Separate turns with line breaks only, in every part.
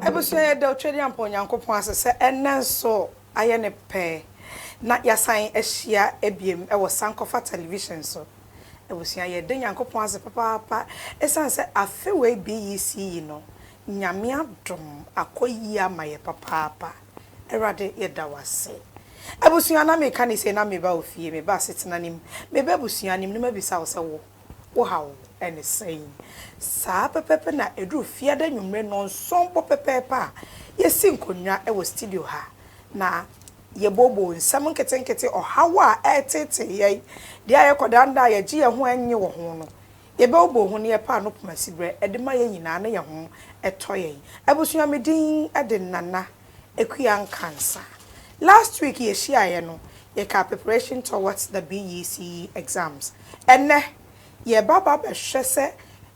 Abusua yɛda Otwedeampa Onyankopɔn ase sɛ ɛnnɛ nso ayɛ ne pɛ na yɛasan ahyia biem wɔ Sankofa Television so. Abusua, yɛda Nyankopɔn ase papaapa esiane sɛ afe wei BEC yi no, Nyame adom akɔ yie ama yɛ papaapa. Awurade, yɛda wo ase. Abusua, na meka no sei na meba wo fie, meba asetena no mu, meba abusua no mu na mabisa wo sɛ wo, wo haw ne sɛn? Saa pɛpɛɛpɛ na ɛduru Fiada anwummere nnɔnson mpo pɛpɛɛpɛ a, yɛsi nkonnwa wɔ studio ha na, Yɛbooboo nsɛm nketenkete, ɔhaw a ɛreteetee yɛn, deɛ a yɛkɔdandaa a yɛgye yɛn ho a ɛnnye wɔ ho no, yɛbooboo ho na yɛpaa no poma siberɛ de ma yɛn nyinaa na yɛn ho tɔ yɛn. Abusua me din de Nana Akua Nkansa. Last week yɛhyiaeɛ no, yɛkaa preparation towards the BECE exams. Ɛnnɛ, yɛreba aba abɛhwɛ sɛ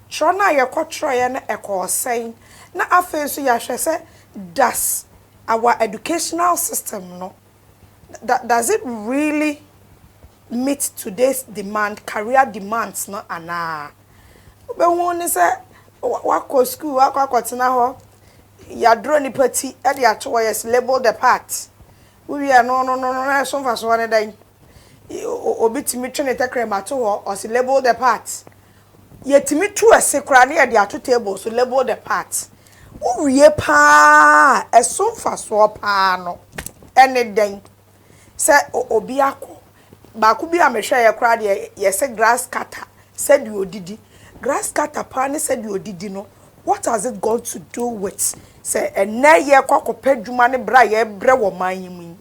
twerɛ no a yɛkɔtwerɛeɛ no ɛkɔɔ sɛn na afei nso yɛahwɛ sɛ does our educational system no da does it really meet today's demand career demands no anaa wobɛhu ne sɛ wakɔ school wakɔ akɔtena hɔ yɛadorɔ nipa ti de ato hɔ yɛs label the part wowie a no no no no na ɛso mfasoɔ ne dɛn. Obi tumi twe ne tɛkrɛma to hɔ, ɔse label the part. Yɛtumi tu ɛse koraa na yɛde ato table so, label the part. Wowie paa a, ɛso mfasoɔ paa no, ɛne dɛn? Sɛ obi akɔ, baako bi a mehwɛeɛ koraa deɛ, yɛse grass cutter, sɛdeɛ ɔdidi. Grass cutter paa ne sɛdeɛ ɔdidi no, what has it got to do with sɛ ɛnnɛ yɛrekɔ akɔpɛ adwuma ne brɛ a yɛrebrɛ wɔ ɔman yi mu yi?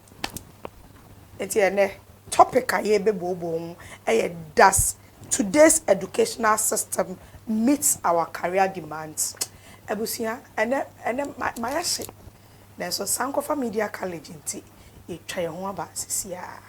Enti ɛnnɛ topic a yɛrebɛbuobue ho yɛ Does today's educational system meets our career demands? Abusua, ɛnnɛ, ɛnnɛ mayɛ hye, nanso Sankofa Media College nti, yɛatwa yɛn ho aba seesei ara.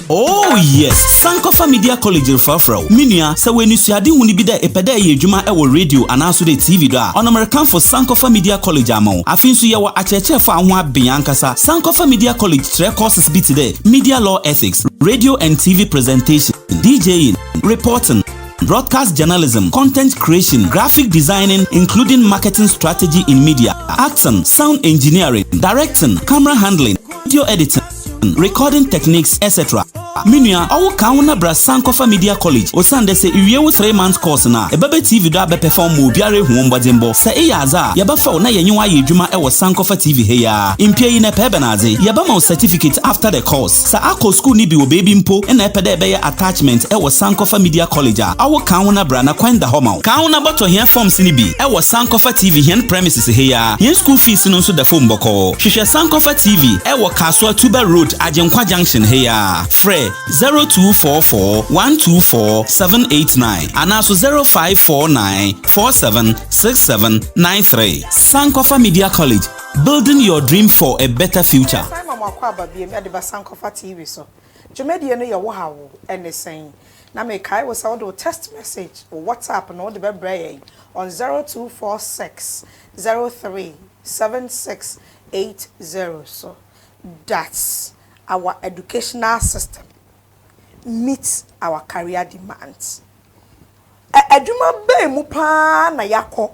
Oh yes, Sankofa Media College refrafra wo. Me nua, sɛ w'ani sua ade hunu bi dɛ epɛ dɛ ɛyɛ adwuma ɛwɔ radio anaaso dɛ TV do a, ɔno merekamfo Sankofa Media College ama wo. Afei nso yɛwɔ akyerɛkyerɛfo a ho aben ankasa. Sankofa Media College kyerɛ courses bi te dɛ Media Law Ethics, Radio and TV Presentation, DJing, Reporting, broadcast journalism, content creation, graphic designing, including marketing strategy in media, acting, sound engineering, directing, camera handling, video editing, recording techniques etc me nua ɔwo kan wo na bra san kɔfa media college osiane dɛ sɛ iwie wo three months course no a ɛbɛbɛ tv do abɛ perform ma obiara ehu wo mbɔdzenbɔ sɛ eyɛ adze a yɛbɛfa wo na yɛnye wo ayɛ edwuma wɔ san kɔfa tv ha yi ara mpia yi na ɛpɛ bɛn adze yɛbɛma wo certificate after the course sɛ akɔ school no bi wɔ beebi mpo na ɛpɛ dɛ ɛbɛyɛ attachment wɔ san kɔfa media college a ɔwo kan wo na bra na kwan da hɔ ma wo kan wo na bɔtɔ hɛn forms no bi wɔ san kɔfa tv hɛn premises. ase ha yi ara. Yɛn school fees no nso da fam bɔkɔɔ. Hwehwɛ Sankɔfa TV wɔ Kasoa Tuba Road, Agyenkwa Junction ha yi ara. Frɛ 0244 124 789 anaaso 0549 47 67 93. Sankɔfa Media College, building your dream for a better future. Yɛsan ma mo akwaaba biom de ba
Sankɔfa TV so. Dwumadie no yɛ wo ha wo ɛne sɛn? Na mekae wo sɛ wode wo text message, wo WhatsApp no wode bɛbrɛ yɛn on zero two four six zero three seven six eight zero so. That's our educational system meets our career demands. Ɛ adwuma bɛn mu pa ara na yɛakɔ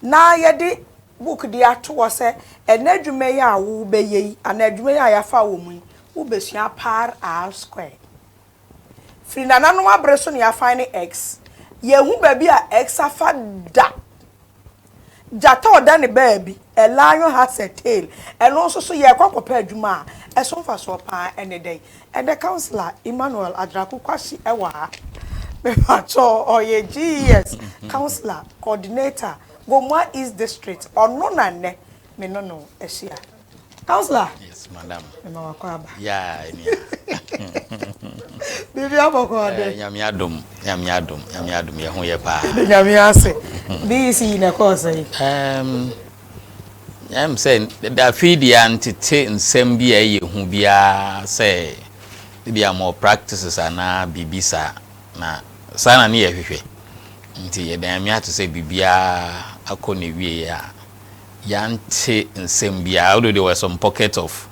na yɛde book de ato hɔ sɛ ɛnɛ adwuma yi a wobɛyɛ yi anaa adwuma yi a yɛafa wɔ mu yi wobɛsua per hour square. Firi nananom abere so na yɛafan ne X. Yɛnhu baabi a X afa da. Gyata ɔda ne baabi, a lion has a tail. Ɛno nso so, yɛrekɔ akɔpɛ adwuma a ɛso mfasoɔ pa ara ne dɛn? Ɛnnɛ Councillor Emmanuel Adraku Kwasi wɔ ha. Mepakyɛw, ɔyɛ GES Councillor, Coordinator, Gomoa East District. Ɔno na nnɛ me ne no ahyia. Counselor. Yes, madam.
Mema wakɔ aba.
Yeah, enia. Bibi abɔkɔ ɔde. Eh, nyame adom, nyame
adom, nyame adom, yɛ ho yɛ paa. De nyame ase.
Bi si na kɔ sɛ. Um,
nyame sɛ da fi di antete nsɛm bi a ɛyɛ hu biara sɛ bi a more practices ana bibi sa na saa na ne yɛ hwehwɛ. Nti yɛ da nyame ato sɛ bibia akɔ ne wie a. Yɛante nsɛm biara, although there were some pockets of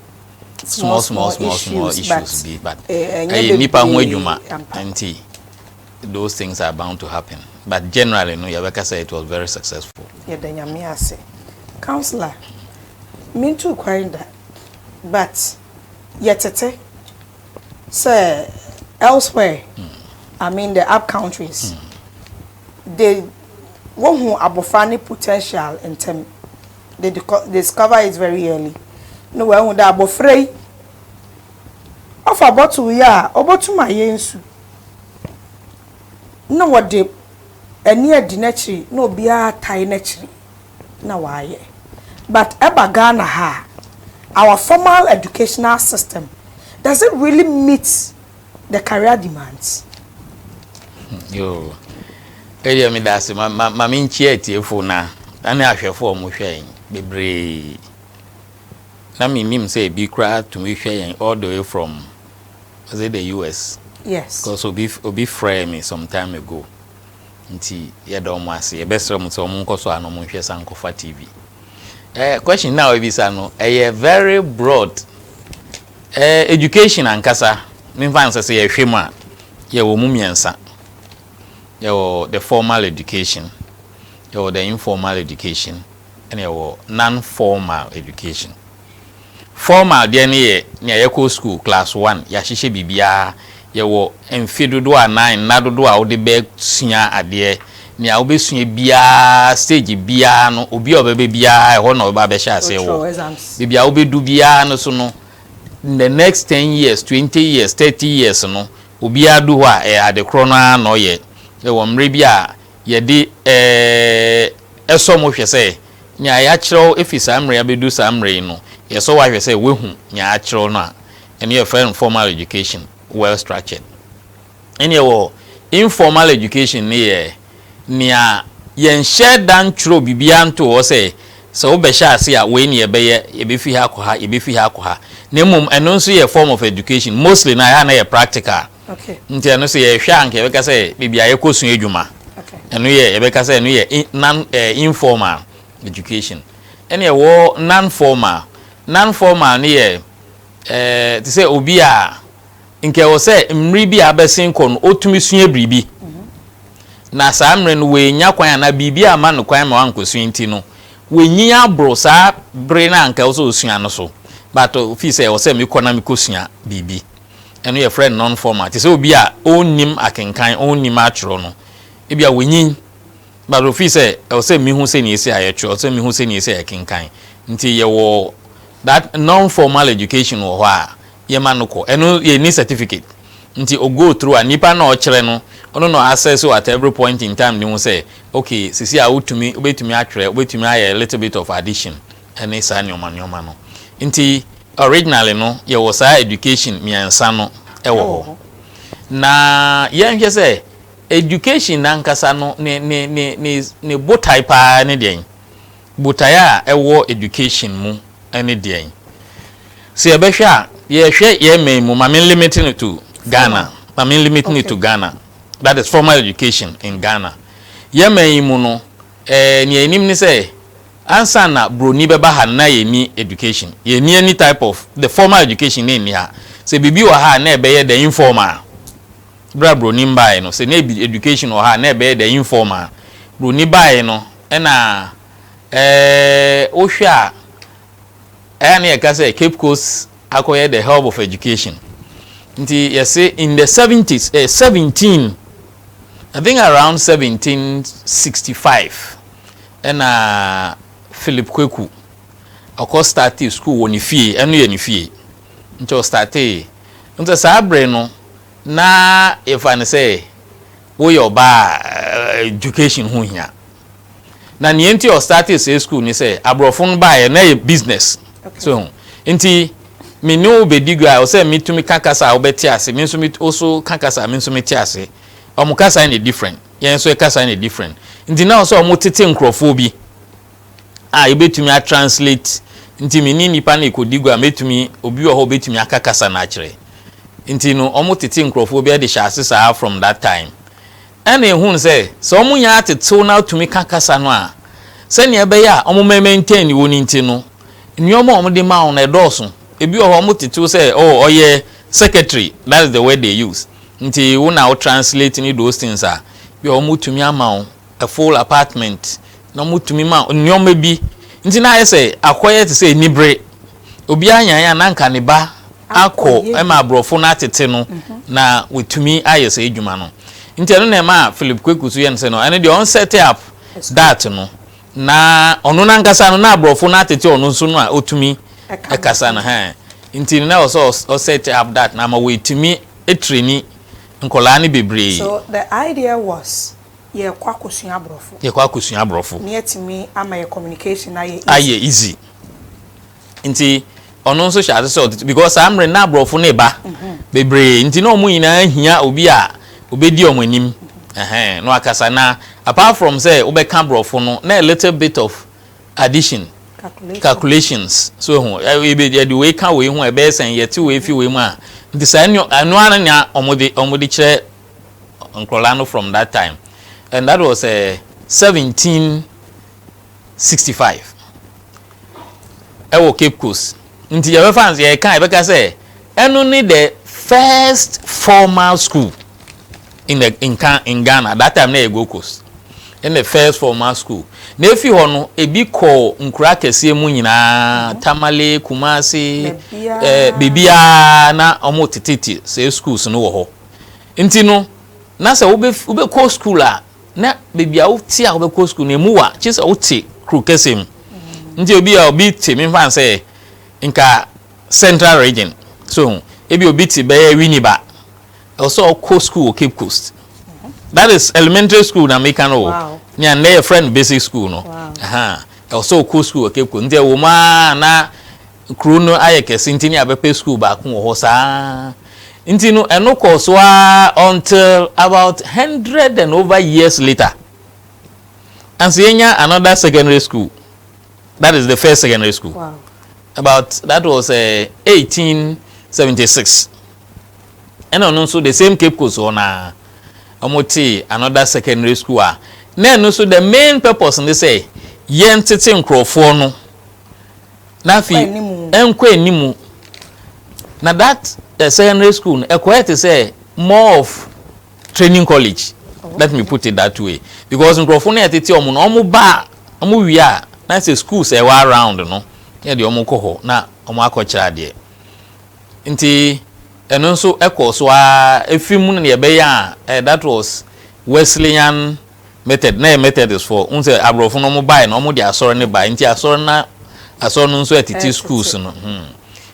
small small small small issues bi but ɛyɛ nnipa ho adwuma nti those things are bound to happen but generally no yɛbɛka sɛ it was very successful. Yɛda Nyame ase.
Councillor, mentuu kwan da but yɛtete sɛ elsewhere, I mean the up countries, de wohu abofra ne potential ntsɛm, they discover it very early, na woehu dɛ abofra yi ɔfa bottle yi a obotum ayɛ nsu, na wɔde ani adi n'ekyir na obiara atae n'ekyir na ɔayɛ. But eba Ghana ha a, our formal educational system, does it really meet. The Career Demands.
Yoo. Ɛyɛ me da ase ma ma me nkyia atiefo na ɛne ahwɛfo a wɔhwɛ yɛn bebree. Na me nim sɛ ebi koraa tumi hwɛ yɛn all the way from is it the US? Yes. Because obi
obi
frɛɛ me some time ago. Nti yɛda wɔn ase. Yɛbɛsrɛ mo sɛ wɔn nkɔ so a na wɔn nhwɛ Sankofa TV. Eh, question na ebisa no ɛyɛ very broad. Eh education ankasa memfa nsɛ sɛ yɛhwɛ mu a yɛwɔ mu mmiɛnsa yɛwɔ the formal education yɛwɔ the informal education ɛna yɛwɔ non formal education formal deɛ no yɛ nea yɛkɔ school class one yɛahyehyɛ biribiara Yɛwɔ mfe dodoɔ anaa nna dodoɔ a wode bɛsua adeɛ. Nea wobɛsua biara, stage biara no, obi a ɔbɛba biara, ɛhɔ na ɔbɛba abɛhyɛ aseɛ wɔ. Baabi a wobɛdu biara no so no, in the next ten years, twenty years, thirty years no, obiara du hɔ a, ɛyɛ ade korɔ no ara na ɔyɛ. Ɛwɔ mmerɛ bi a yɛde sɔ mo hwɛ sɛ, nea yɛakyerɛw firi saa mmerɛ yi abɛdu saa mmerɛ yi no, yɛsɔ wo ahwɛ sɛ woahu nea yɛakyerɛw no a. Ɛno yɛ fɛn formal education well structured. Ɛneɛ wɔ informal education no yɛ nea yɛnhyɛ da ntwerɛ biribiara ntoo hɔ sɛ sɛ wobɛhyɛ ase a wei ne yɛbɛyɛ, yɛbɛfi ha akɔ ha, yɛbɛfi ha akɔ ha. Na mmom ɛno nso yɛ form of education. Mostly no ɛha na yɛ practical. Okay. Nti ɛno sɛ yɛhwɛ a nka yɛbɛka sɛ baabi a yɛkɔ sua adwuma. Okay. Ɛno yɛ yɛbɛka sɛ ɛno yɛ non eh, informal education. Ɛne ɛwɔ non formal. Non formal no yɛ Te sɛ obi a nka ɛwɔ sɛ mmere bi a abɛsen kɔ no otumi sua biribi, na saa mmere no wannya kwan anaa biribi a ama no kwan ma wankosua nti no, wanyin aboro saa bere no a nka ɛwɔ sɛ osua no so. But ofii sɛ ɛwɔ sɛ mekɔ na mekosua biribi. Ɛno yɛfrɛ no non-formal. Te sɛ obi a onnim akenkan, onnim atwerɛ no, ebia wanyin But ofii sɛ ɛwɔ sɛ mihu sɛnea esi a yɛtwerɛ, ɛwɔ sɛ mihu sɛnea esi a yɛkenkan. Nti yɛwɔ that non-formal education wɔ hɔ a yɛma no kɔ. Ɛno yɛnni certificate. Nti o go through a nipa no a ɔkyerɛ no, ɔno na ɔassess wo at every point in time de hu sɛ okay seesei a wotumi, wobɛtumi atwerɛ, wobɛtumi ayɛ a little bit of addition ne saa nneɛma nneɛma no. Nti originally no yɛwɔ saa education mmiɛnsa no wɔ hɔ. Na yɛnhwɛ sɛ. Education nankasa no ne ne ne ne ne botae paa ne deɛn? Botae a ɛwɔ education mu ne deɛn? Sɛ yɛbɛhwɛ a, yɛhwɛ yɛn man mu, ma me limit no to Ghana, ma me limit no to Ghana, that is formal education in Ghana. Yɛn man yi mu no, eh, nea yɛnim ne sɛ, ansa na broni bɛba ha no na yɛnni education. Yɛnni any type of, the formal education no nni ha. Sɛ biribi wɔ ha a, na ɛbɛyɛ the informal. Berɛ a Broni no baeɛ no, sɛ na ɛbi education wɔ ha a, na ɛbɛyɛ dɛ informal. Broni baeɛ no, ɛna wo hwɛ a, ɛyɛ a na yɛka sɛ Cape Coast akɔyɛ the hub of education. Nti yɛse in the seventies, eh, seventeen, I think around seventeen sixty five, ɛna Philip Kweku ɔkɔ startee school wɔ ne fie, ɛno yɛ ne fie, nti ɔstartee. Nti saa bere no, Na yɛfa no sɛ woyɛ ɔbaa a education ho hia. Na nea enti a ɔstartee saa school ne sɛ aborɔfo no baeɛ na ɛyɛ business. So ho? Nti me ne wo bɛdi gua a ɛwɔ sɛ metumi ka kasa a wobɛte ase, me nso wo so ka kasa a me nso mete ase. Wɔn kasa no yɛ different, yɛn nso yɛ kasa no yɛ different. Nti na ɛwɔ sɛ wɔtete nkurɔfoɔ bi. a yɛbɛtumi a translate nti me ne nipa no ɛkɔdi gua mɛtumi obi wɔ hɔ ɔbɛtumi aka kasa no akyerɛ nti no ɔmo tete nkorɔfoɔ bi ɛde hyɛ ase saa from that time ɛna ɛhunu sɛ sɛ ɔmo nyɛ atetew na atumi ka kasa no a sɛnea ɛbɛyɛ a ɔmo mɛ maintain ne wɔ no nti no nneɛma a ɔmo de ma wɔn ɛdɔɔso ebi wɔ hɔ ɔmo tetew sɛ oh ɔyɛ secretary that is the word they use nti wo na wo translate ne those things a bi a ɔmo tumi ama wo a full apartment na ɔmo tumi ma nnoɔma bi nti na ayɛ sɛ akɔyɛ te sɛ anibere obiara nyaeɛ a na anka ne ba akɔ ɛma aborɔfo no atete no na watumi ayɛ saa adwuma no nti ɛno na ɛma Philip Kweku so yɛ no sɛ no ɛno deɛ ɔn set up that no na ɔno nankasa no na aborɔfo no atete ɔno nso no a ɔtumi ɛkasa no hɛn nti no na ɔsɛ ɔ set up that na ama wɔatumi atirani nkɔlaa no bebree. So the idea
was yɛɛkɔ akɔsua abrɔfo. Yɛɛkɔ akɔsua abrɔfo.
Ne atumi ama
yɛ communication ayɛ easy. Ayɛ easy.
Nti ɔno nso hyɛ ase sɛ ɔde because saa mmerɛ na abrɔfo no reba bebree nti na wɔn nyinaa hia obi a ɔbɛdi wɔn anim ɛhɛn na wakasa na apart from sɛ wobɛka abrɔfo no na a little bit of addition calculations so ehu yɛde wei ka wei ho a ɛbɛyɛ sɛn yɛte wei fi wei mu a nti saa ɛno ara na wɔn de wɔn de kyerɛ. nkɔlaa no from that time and that was eh, seventeen sixty five ɛwɔ Cape Coast nti yɛbɛ fa nso yɛka yɛbɛ ka sɛ ɛno ne the first formal school in the in, in Ghana that time na yɛ Gold Coast in the first formal school na efi hɔ no ebi kɔ nkura kɛseɛ mu nyinaa mhm. Tamale Kumasi ɛɛ eh, beebiara na wɔn tete te sɛ schools no wɔ hɔ. Nti no, na sɛ wobɛkɔ sukuu a, na baabi a wote a wobɛkɔ sukuu no, ɛmu wa, gye sɛ wote kuro kɛseɛ mu. Nti ebi a obi te, memfa no sɛ nka Central Region, so ho, ebi obi te bɛyɛ Winneba, ɛwɔ sɛ ɔkɔ sukuu wɔ Cape Coast. That is elementary school na meka no o, nea nnɛ yɛfrɛ
no
basic school no.
Ɛwɔ sɛ ɔkɔ
sukuu wɔ Cape Coast, nti ɛwɔ mu a na Kurow no ayɛ kɛse nti na yɛabɛpɛ sukuu baako wɔ hɔ saa ara nti no ɛno kɔɔ so ara until about hundred and over years later ansa yɛanya another secondary school that is the first secondary school about
that
was uh, eh, 1876 ɛna ɔno nso the same Cape Coast hɔ na wɔn te another secondary school a na ɛno nso the main purpose ne sɛ yɛn tete nkurɔfoɔ no. na afei ɛnkɔ anim na that uh, secondary school ɛkɔyɛ te sɛ more of training college oh, let me put it that way because nkurɔfo no ɛtete wɔn no wɔn ba wɔn wie a na sɛ school sɛ ɛwɔ around no yɛ deɛ wɔn kɔ hɔ na wɔn akɔkyerɛ adeɛ nti ɛno nso ɛkɔ so a efi mu na yɛbɛyɛ a eh, that was wesleyan. Method na ɛyɛ Methodist foɔ wohu sɛ abrɔfo no ɔmo bae no ɔmo de asɔre no bae nti asɔre na asɔre no nso ɛtete schools no hmm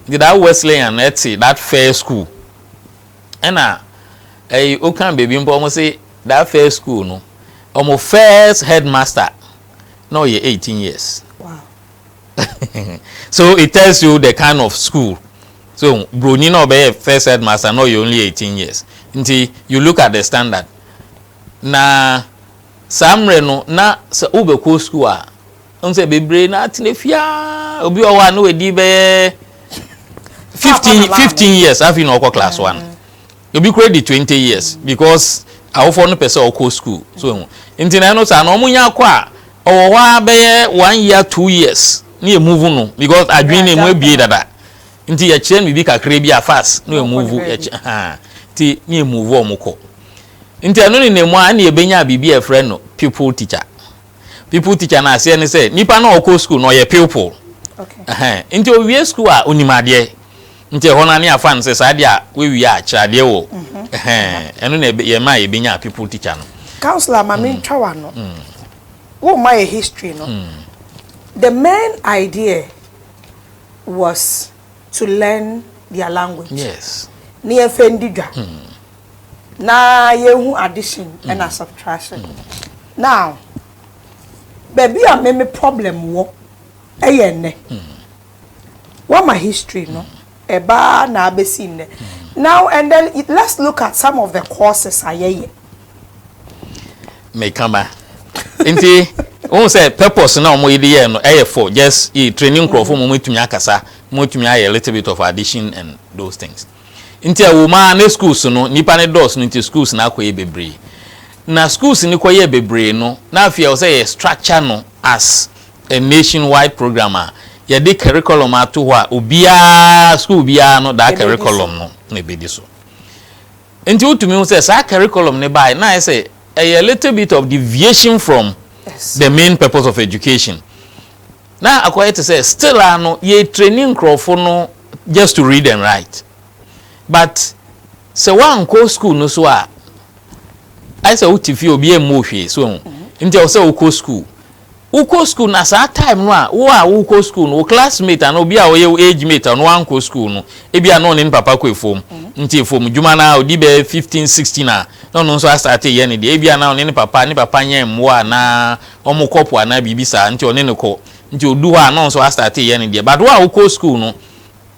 nti that Wesleyan no ɛte that fair school ɛna ɛyi okan baabi mpo ɔmo se that fair school no ɔmo first headmaster na ɔyɛ eighteen years so it tells you the kind of school so broni na ɔbɛyɛ first headmaster na ɔyɛ only eighteen years nti you look at the standard. Na saa mmerɛ no na sɛ wobɛkɔ sukuu a, wohu sɛ bebree na atena fie ara. Obi wɔ hɔ a na wadi bɛyɛ fifteen fifteen years afei na ɔkɔ class one. Obi kura di twenty years because awofoɔ no pɛ sɛ ɔkɔ sukuu so ehu. Nti na ɛno saa na wɔn nya akɔ a ɔwɔ hɔ a bɛyɛ one year two years ne yɛ move no because adwene no emu ebie dada. Nti yɛ kyerɛ no biribi kakraa bi a fast na yɛ move yɛ kyɛ haa nti na yɛ move wɔn kɔ nti ɛno ne na mu a ɛna yɛ bɛnya biribi a yɛ frɛ no pupil tikya pupil tikya no aseɛ ne sɛ nipa no a ɔkɔ sukuu no ɔyɛ pupil ɛhɛn
nti ɔwie sukuu
a ɔnim adeɛ nti ɛhɔ no ne afa no sɛ saa adeɛ a wɔawie a kyerɛ adeɛ wɔ mhm. ɛhɛn ɛno na yɛ ma yɛ bɛnya pupil tikya no. councillor maame mm. ntwa
wa no mm. wɔn ma yɛ history no mm. the main idea. was to learn their language. Yes. Ne
yɛmfa ndi
dwa. Na yɛnhu addition ɛna subtraction. Now, baabi a me me problem wɔ ɛyɛ nnɛ. Woama history no, ɛbaa na abɛsi nnɛ. Now and then let's look at some of the courses a yɛyɛ.
meka ma nti wohu sɛ purpose na wɔn de yɛɛ no ɛyɛ for just e training nkurɔfo mm. mu wɔtumi akasa wɔtumi ayɛ little bit of addition and those things nti ɛwɔ mu a ne schools no nipa ne dɔɔso no nti schools no akɔyɛ bebree na schools no kɔyɛ bebree no na afei ɛwɔ sɛ yɛ structure no as a nationwide program a yɛde curriculum ato hɔ a obiara school biara no daa curriculum no na ebedi so. Nti wotumi hu sɛ saa curriculum no baeɛ na ayɛ sɛ ɛyɛ little bit of deviation from the main purpose of education. Na akɔyɛ te sɛ still ara no yɛretraini nkurɔfo no just to read and write but sɛ woankɔ school no so a ayɛ sɛ wote fie obiara mmu wo hwee so ho nti ɛwɔ sɛ wokɔ school. Wokɔ sukuu na saa time no a wo a worekɔ sukuu no wo classmate anaa obi a ɔyɛ wo age mate a ɔno wankɔ sukuu no ebia na ɔne ne papa kɔ afuom nti afuom adwuma no ara ɔdi bɛyɛ fifteen sixteen a na ɔno nso astarte yɛ ne deɛ ebia na ɔne ne papa ne papa nyɛn mmoa anaa wɔkɔ po anaa biribi saa nti ɔne no kɔ nti ɔdu hɔ a na ɔno nso astarte yɛ ne deɛ but wo a wokɔ sukuu no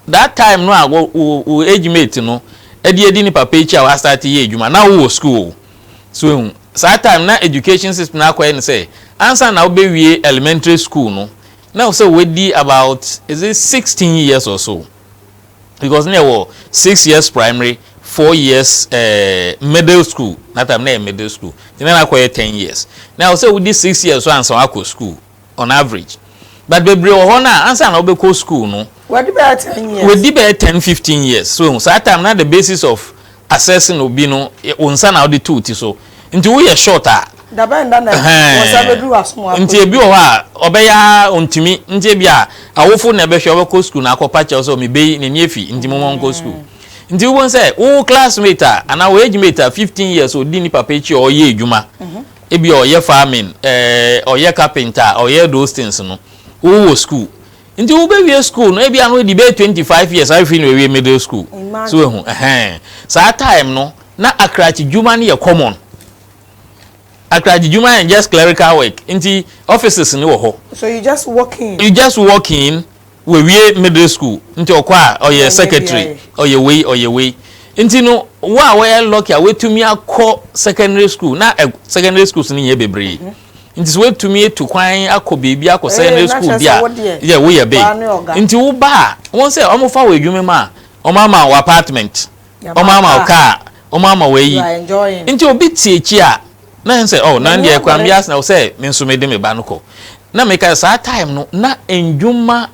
that time no a wo wo age mate no ɛde adi ne papa akyi a wastarte yɛ adwuma na wowɔ sukuu o. So ehu? Saa time na education system no akɔyɛ no sɛ ansa na wobɛwie elementary school no na ɛwɔ sɛ wadi about is it sixteen years or so because na ɛwɔ six years primary four years eh, middle school na time na ɛyɛ middle school nti na na akɔyɛ ten years na ɛwɔ sɛ wodi six years so ansa wakɔ school. on average but bebree wɔ hɔ no a ansa na wobɛkɔ school no wɔdi bɛyɛ ten
years wɔdi bɛyɛ ten fifteen
years so ehu saa time na the basis of assessing obi no wɔn nsa na wɔde tu ti so nti woyɛ short a dabɛn da na wɔn nsa
bɛduru asom akɔ nti ebi wɔ hɔ a
ɔbɛyɛ ɔntumi nti ebi a awofo na ɛbɛhwɛ ɔbɛkɔ school na akɔpa kyɛw sɛ ɔmebe yi n'ani efi nti mo wɔn kɔ school. nti wobɛhu sɛ wo classmate a anaa wo age mate a fifteen years ɔdi ne papa akyi a ɔyɛ adwuma mhm. Ebia ɔyɛ farming, eh, ɔyɛ carpenter a, ɔyɛ those things no. Wowɔ school. Nti wobɛwie school no, ebia no adi bɛyɛ twenty five years afei na wawie middle school. So Imagine. wahu, ɛhɛn. Saa time no, na akrakyedwuma no yɛ common. Akrakyedwuma and just clerical work. Nti offices no wɔ hɔ. So you just
walk in. You just walk in,
Wawie middle school nti ɔkɔ a ɔyɛ secretary ɔyɛ wei ɔyɛ wei nti no wo a woyɛ lucky a watumi akɔ secondary school na secondary schools no nyɛ bebree nti sɛ watumi atu kwan akɔ biribi akɔ secondary school bi a yɛ woyɛ big nti wo ba a wɔn sɛ wɔn fa wɔ adwuma mu a wɔn ama wɔ apartment. Wɔn ama wo car, wɔn ama wo ayi. Nti obi te akyi a, na ɛn sɛ, oh, na deɛ ɛkura me yas na wo sɛ, me nso mede me ba no kɔ. Na meka saa time no, na ndwuma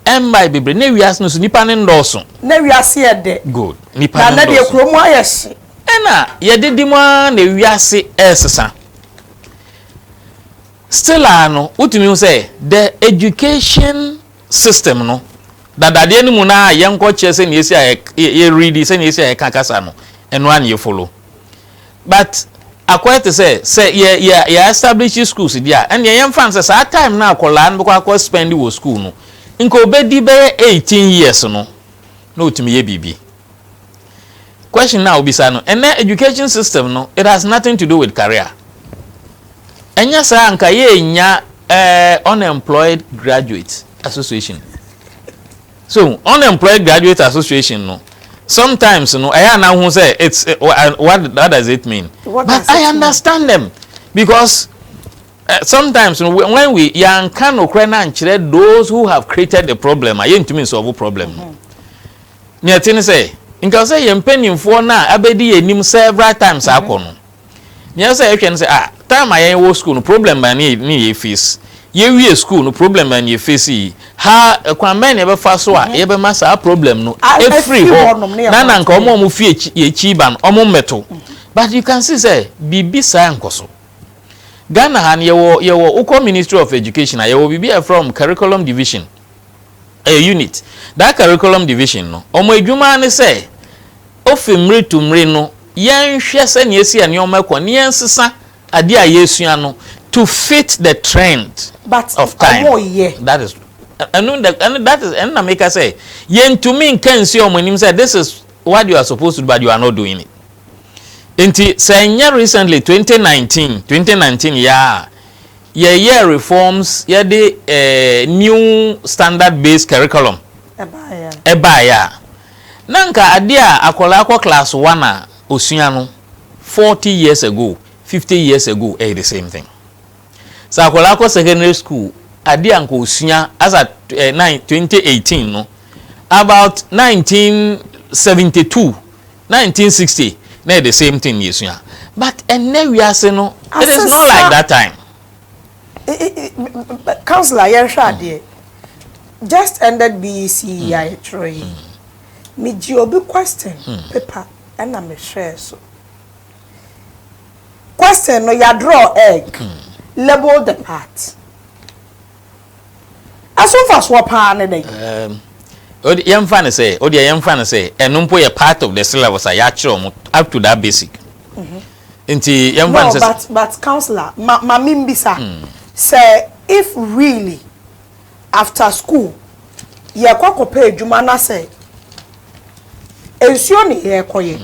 ɛmmae bebree, na wiase no so nipa no nnɔɔso. Na wiase yɛ
dɛ. Good, nipa no nnɔɔso. Na na
deɛ kuro mu ayɛ
hye. Ɛna
yɛdidi mu ara na wiase ɛresesa. Still a no, wotumi hu sɛ the education system no dadadeɛ no mu no ara yɛnkɔ kyerɛ sɛnea esi a yɛ readi sɛnea esi a yɛka kasa no ɛno ara na yɛ follow but akɔyɛ te sɛ sɛ yɛ yɛ yɛ establish schools deɛ a ɛnneɛ yɛmfa no sɛ saa time no akwadaa no bɛkɔ akɔ spend wɔ school no nka obedi bɛyɛ eighteen years no na otumi yɛ biribi. Question no a wobisa no, ɛnnɛ education system no, it has nothing to do with career. Ɛnyɛ saa anka yɛnnya eh, unemployed graduate association. So unemployed graduate association no, sometimes no ɛyɛ ana ho sɛ it's eh, what, what does it mean? What But I understand mean? them because uh, sometimes no, when we yɛanka nokorɛ no ankyerɛ those who have created the problem a yɛntumi nsolve problem no. Mm -hmm. Nea ɛte ne sɛ, nka sɛ yɛn mpanimfoɔ no a abɛdi yɛn anim several times mhm. akɔ no, nea ɛsɛ sɛ yɛhwɛ no sɛ, ah, time a yɛn wɔ school no, problem bɛn ne yɛ ne yɛ face? Yɛwie school no, problem bɛn ne yɛ face yi? Ha, kwan bɛn na yɛbɛfa so a mhm. yɛbɛma saa problem no afiri hɔ na na nka wɔn a wɔfi akyi ba no, wɔn mmɛto. Mhm. But you can see sɛ biribi saa nkɔ so. Ghana ha no yɛwɔ yɛwɔ wokɔ Ministry of Education a yɛwɔ biribi a yɛfrɛ wɔn curriculum division. Ɛyɛ unit. Daa curriculum division no, wɔn adwuma ara ne sɛ ofi mmere to mmere no yɛnhwɛ sɛnea esi a nneɛma rekɔ na yɛnsesa ade a yɛresua no to fit the trend But of time. wɔyɛ. That is, ɛno na, ɛno, that is, ɛno na meka sɛ yɛntumi nka nsi wɔn anim sɛ this is what you are supposed to do but you are not doing it. Enti sɛ ɛnyɛ recently, twenty nineteen, twenty nineteen, yɛa a, yɛyɛɛ reforms, yɛde eh, new standard based curriculum ɛbaeɛ a na nka adeɛ a akwadaa kɔ class one a osua no forty years ago fifty years ago ɛyɛ the same thing sɛ akwadaa kɔ secondary school adeɛ a nka osua as at eh, nine twenty eighteen no about nineteen seventy two Nineteen sixty na yɛ the same thing yɛsua but ɛnnɛ wiase no it is not like that time.
Councillor yɛnhwɛ adeɛ just ended BEC yi a yɛtwerɛ yi megye obi question paper ɛna mehwɛɛ so question no yɛadraw egg label the part. Ɛso mfasoɔ paa ne dɛn? Ɛɛm, wode, yɛmfa
no sɛ, wodeɛ yɛmfa no sɛ, ɛno mpo yɛ part of the syllabus a yɛakyerɛ wɔn up to that basic. Nti yɛmfa no No, sɛ. but, but councillor,
ma, ma me mbisa, sɛ if really after school yɛrekɔ akɔpɛ adwuma na sɛ nsuo ne yɛrekɔyɛ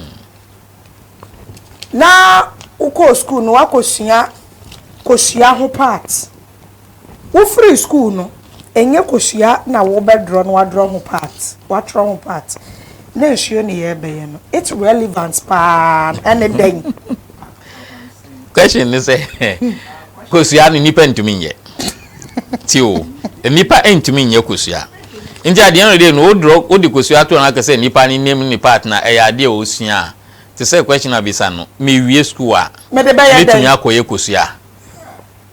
na wokɔɔ school no woakɔsua kosua ho part. Wofiri sukuu no, ɛnyɛ kosua na wobɛdrɔ na woadrɔ ho part, woatwerɛ ho part, na nsuo ne yɛrebɛyɛ no, it's relevant paa, ɛne dɛn? Question
ne sɛ, kosua no nnipa ntumi nyɛ, tie o, nnipa ntumi nyɛ kosua, nti at the end of the day no, wodrɔ, wode kosua to hɔ na waka sɛ nnipa no nnim ne part no a, ɛyɛ adeɛ a ɔsua a, te sɛ question a bisa no, mewie sukuu a, mɛtumi akɔyɛ kosua?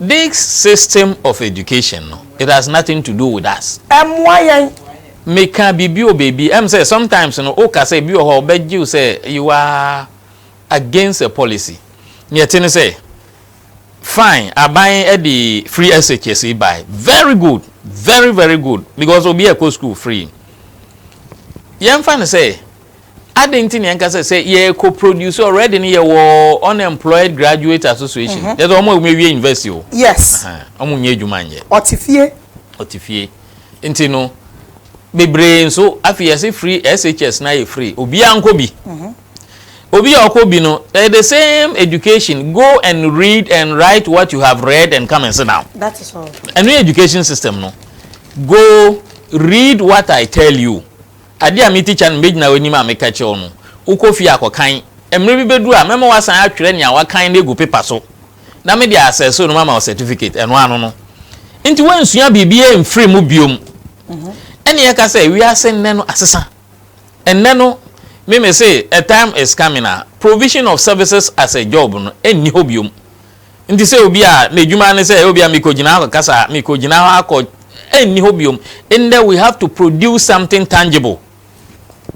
This system of education no it has nothing to do with us. Ɛmmoa yɛn. Me ka biribi wɔ baabi ɛm sɛ sometimes no wo ka sɛ bi wɔ hɔ a ɔbɛ gye wo sɛ you are against a policy nea ɛte ne sɛ fine aban ɛde free SHS yi bae very good very very good because obiara ɛkɔ school free yɛn fa no sɛ Adɛn nti na yɛnka sɛ sɛ yɛkɔ produce already no yɛwɔ unemployed graduate association mm-hmm. yɛsɛ wɔn a wɔn awie university o yes wɔn
nyɛ adwuma
nyɛ ɔte fie ɔte fie nti no bebree nso afei yɛsɛ free SHS na yɛ free obiara nkɔ bi mm-hmm. obi a ɔkɔ bi no ɛyɛ eh, the same education go and read and write what you have read and come and sit down that is all ɛno
education system
no go read what I tell you Ade a me tikya no megyina w'anim a meka kyerɛ wo no, wokɔ fie a kɔkan. Mmere bi bedu a mɛma woasan atwerɛ nea woakan no agu pepa so, na mede asɛ so no mama wo sɛtifikate. Ɛno ano no, enti woansua biribiara amfiri mu bio. Ɛnna yɛka sɛ, Wiase nnɛ no asesa. Ɛnnɛ no, me mese, a time is coming a provision of services as a job no nni hɔ bio. Nti sɛ obi a n'adwuma ne sɛ ebia mekɔgyina hɔ akɔkasa, mekɔgyina hɔ akɔ, ɛnni hɔ biom. Nnɛ we have to produce something tangible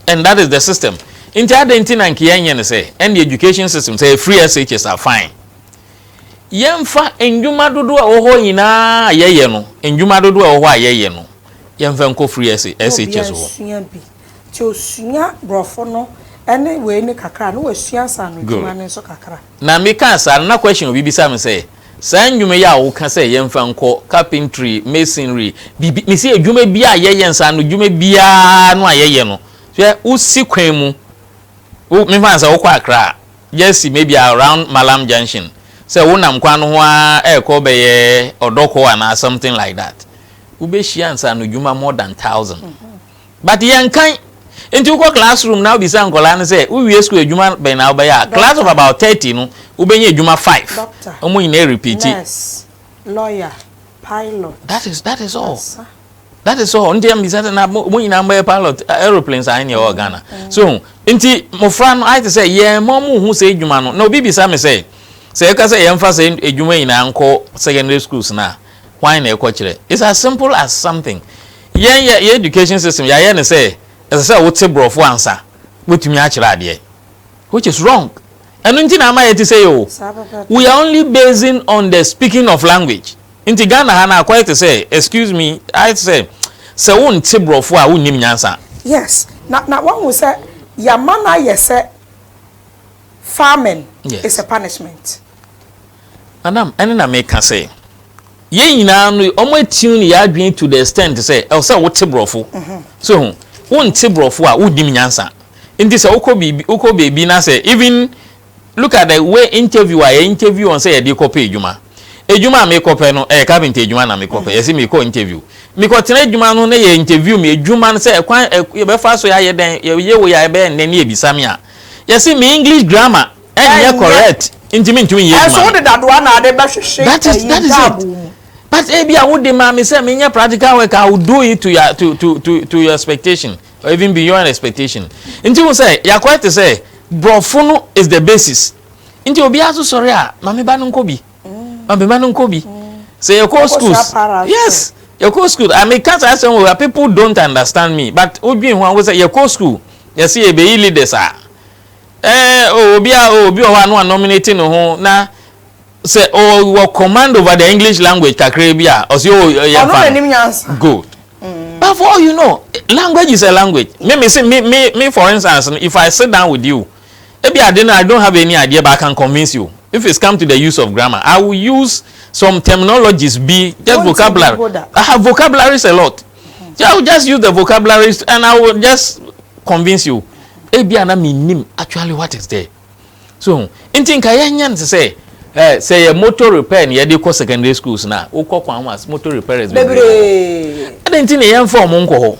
and that is the system. Nti adɛn nti na nka yɛnyɛ no sɛ ɛnde education system sɛ free SHS a fine. Yɛmfa nnwuma dodoɔ a ɛwɔ hɔ nyinaa a yɛyɛ no, nnwuma dodoɔ a ɛwɔ hɔ a yɛyɛ no, yɛmfa nkɔ free SHS hɔ. Sua bi. Nti osua borɔfo
no ne wei no kakra a na wasua nsaanodwuma no nso kakra. Na me kaa saa no
na question obi bisa me sɛ saa ndwuma yi a wo ka sɛ yɛn fa nkɔ carpentry, masonry, biribi me se adwuma biaa a yɛ yɛ nsa ano dwuma biaa no a yɛ yɛ no hwɛ wo si kwan mu wo me fa no sɛ wo kɔ Accra a just si maybe around Mallam junction sɛ wo nam kwan no ho ara ɛɛkɔ bɛyɛ Ɔdɔkɔ anaa something like that wo bɛ hyia nsa ano dwuma more than thousand. But yɛnkan. Nti wokɔ class room na wobisa nkwadaa no sɛ wowie school adwuma bɛn na wobɛyɛ a, class of about thirty no wobɛnya adwuma five. Doctor, Wɔn nyinaa repeat. nurse, lawyer,
pilot. That is that is
all. Ansa. That is all. Nti mbisa sɛ na wɔn nyinaa mbɛyɛ pilot aeroplane saa ne ɛwɔ Ghana. So hu. Nti mmofra no ayɛ te sɛ yɛn ma wɔn hu sɛ adwuma no na obi bisa me sɛ sɛ yɛka sɛ yɛmfa sɛ adwuma nyinaa nkɔ secondary schools no a hwan na ɛkɔkyerɛ? It's as simple as something. Yɛn yɛ yɛn education system yɛayɛ no sɛ ɛsɛ sɛ wote brɔfo ansa wobɛtumi akyerɛ adeɛ which is wrong ɛno nti na ama yɛte sei oo we are only basing on the speaking of language nti Ghana ha no akɔyɛ te sɛ excuse me ayɛ te sɛ sɛ wonte brɔfo a wonnim nyansa. Yes na
na wahu sɛ yɛama no ayɛ sɛ farming is a punishment.
Madam, ɛno na meka sɛ yɛn nyinaa no wɔn attune yɛn adwene to the extent sɛ ɛwɔ sɛ wote borɔfo. So ho, wonte borɔfo a wonnim nyansa. Nti sɛ wokɔ biribi wokɔ baabi na sɛ even look at the way interview a yɛ interview wɔn sɛ yɛde kɔpɛ adwuma. Adwuma a mekɔpɛ no ɛyɛ carpenter adwuma na mekɔpɛ. Yɛse mekɔ interview. Mekɔtena adwuma no na yɛ interview me adwuma no sɛ ɛkwan yɛbɛfa so yɛayɛ dɛn yɛyɛ wei a ɛbɛyɛ nnɛ na yɛbisa me a yɛse me English grammar ɛnyɛ correct nti mi ntumi nyɛ adwuma.
Ɛso wode
dadoa
na
ade
bɛhwehwe
ɛyi ntaabu
mu. But
ebi a wode maa mi sɛ mi nyɛ practical work I will do it to your to to to to your expectation or even beyond expectation nti hu sɛ yakɔɛ te sɛ borɔfo no is the basis nti obiara so sɔre a maame ba no nkɔ bi maame ba no nkɔ bi sɛ yɛ kɔ schools yes yɛ kɔ school I mean kasa asɛm wɔ people don't understand me but wodwin ho a wosɛ yɛ kɔ school yɛ sɛ yɛ bɛyi leaders a. Ɛɛ oo, obiara oo, obi wɔ hɔ a na wɔanominate ne ho na sɛ ɔwɔ command over the English language kakraa bi a, ɔse oo oh, yɛmfa no. Ɔno na nim nyansa. Good. Mm. But for all you know, language is a language. Me, me, say, me, me, me, for instance, if I sit down with you, ebi ade no, I don't have any idea, but I can convince you. If it's come to the use of grammar, I will use some terminologies, be just vocabulary. I have vocabularies a lot. Yeah, I will just use the vocabularies and I will just convince you. Ebi ana mi nim actually what is there. So, nti nka yɛn nyɛ nsɛ sɛ eh, sɛ yɛ motor repair na yɛde kɔ secondary schools na wokɔ kwan ho as motor repairers bebree. Ɛdɛ nti na yɛn fɔm nkɔ hɔ.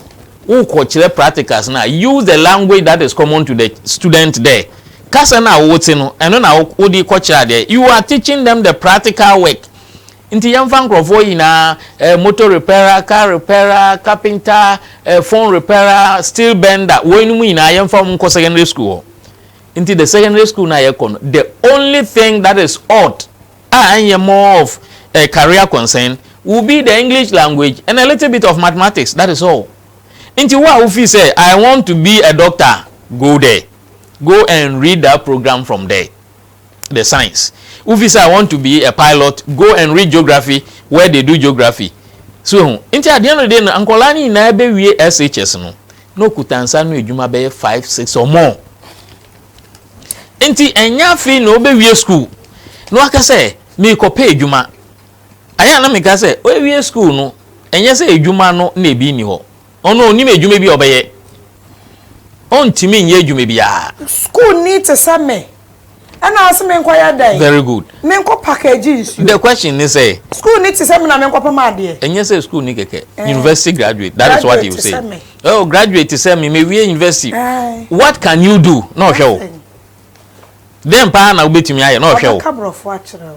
Wokɔ kyerɛ practicals na use the language that is common to the student there. Kasa na wote no, ɛno na wode kɔ kyerɛ adeɛ. You are teaching them the practical work. Nti yɛmfa nkorɔfoɔ nyinaa, eh, motor repairer, car repairer, carpenter, eh, phone repairer, steel bender, woinom nyinaa yɛmfa wɔn nkɔ secondary school hɔ. Nti the secondary school no a yɛkɔ no, the only thing that is odd a ɛnyɛ more of eh, career concern will be the English language and a little bit of mathematics, that is all. Nti wo a wo feel sɛ I want to be a doctor, go there, go and read that program from there. the science wofi sɛ i want to be a pilot go and read geography where they do geography so ehu nti adeɛ no de no nkɔlaa no nyinaa bɛwie shs no na okuta nsa no adwuma bɛyɛ five six or more nti ɛnyɛ afei na ɔbɛwie school na waka sɛ meekɔpɛ adwuma ayɛ na meka sɛ ɔwie school no ɛnyɛ sɛ adwuma no na ebi nni hɔ Ɔno ɔnnim adwuma bi a ɔbɛyɛ. Ɔntumi nyɛ adwuma biara. Sukuuni te
sɛ me. Ɛna ɔse menkɔyɛ dɛn? Very good. Menkɔ
package
nsuo. The question ne sɛ.
Sukuuni te sɛ me na
menkɔpam adeɛ. Ɛnyɛ sɛ sukuuni kɛkɛ.
Eh. University graduate. That is what he say. Graduate te sɛ me. Oh, graduate te sɛ me. Mewie university. Eh. What can you do? Na ɔhwɛ wo. Nothing. Dɛn paa na wobɛtumi ayɛ? Na ɔhwɛ wo. Ɔbɛka borɔfo akyerɛ wo.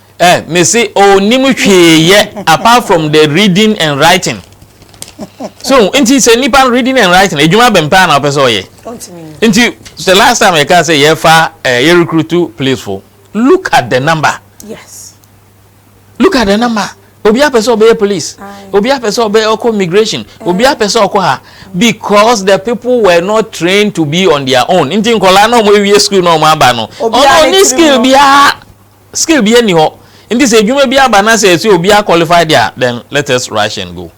Eh mese ɔnnim hwee yɛ apart from the reading and writing so nti sɛ nipa no reading and writing adwuma bɛn paa na ɔpɛ sɛ ɔyɛ nti the last time yɛka sɛ yɛfa eh, yɛ recruit police fo look at the number
yes look
at the number obi apɛ sɛ ɔbɛyɛ police obi apɛ sɛ ɔbɛyɛ ɔkɔ immigration eh. obi apɛ sɛ ɔkɔ ha because the people were not trained to be on their own nti nkɔla na ɔmo ewie school na ɔmo aba no ɔno ni skill biara. Skill biaa nni hɔ nti sɛ adwuma bi aba na sɛ ɛsɛ obiaa qualify de a then let us rush and go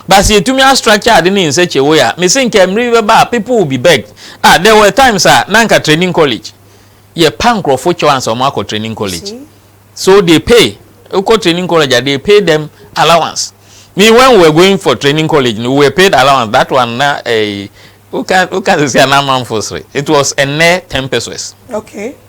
but sɛ yɛtumi a structure ade no in such a way a mese nka mmerɛ bi bɛba a people will be begged ah there were times a na nka training college yɛpa nkorɔfo kyɛw ansa wɔn akɔ training college so they pay wokɔ training college a they pay them allowance me when we were going for training college no we were paid allowance that one na eh, woka sɛsi a na amanfo sere it was ɛnɛ 10 pesos okay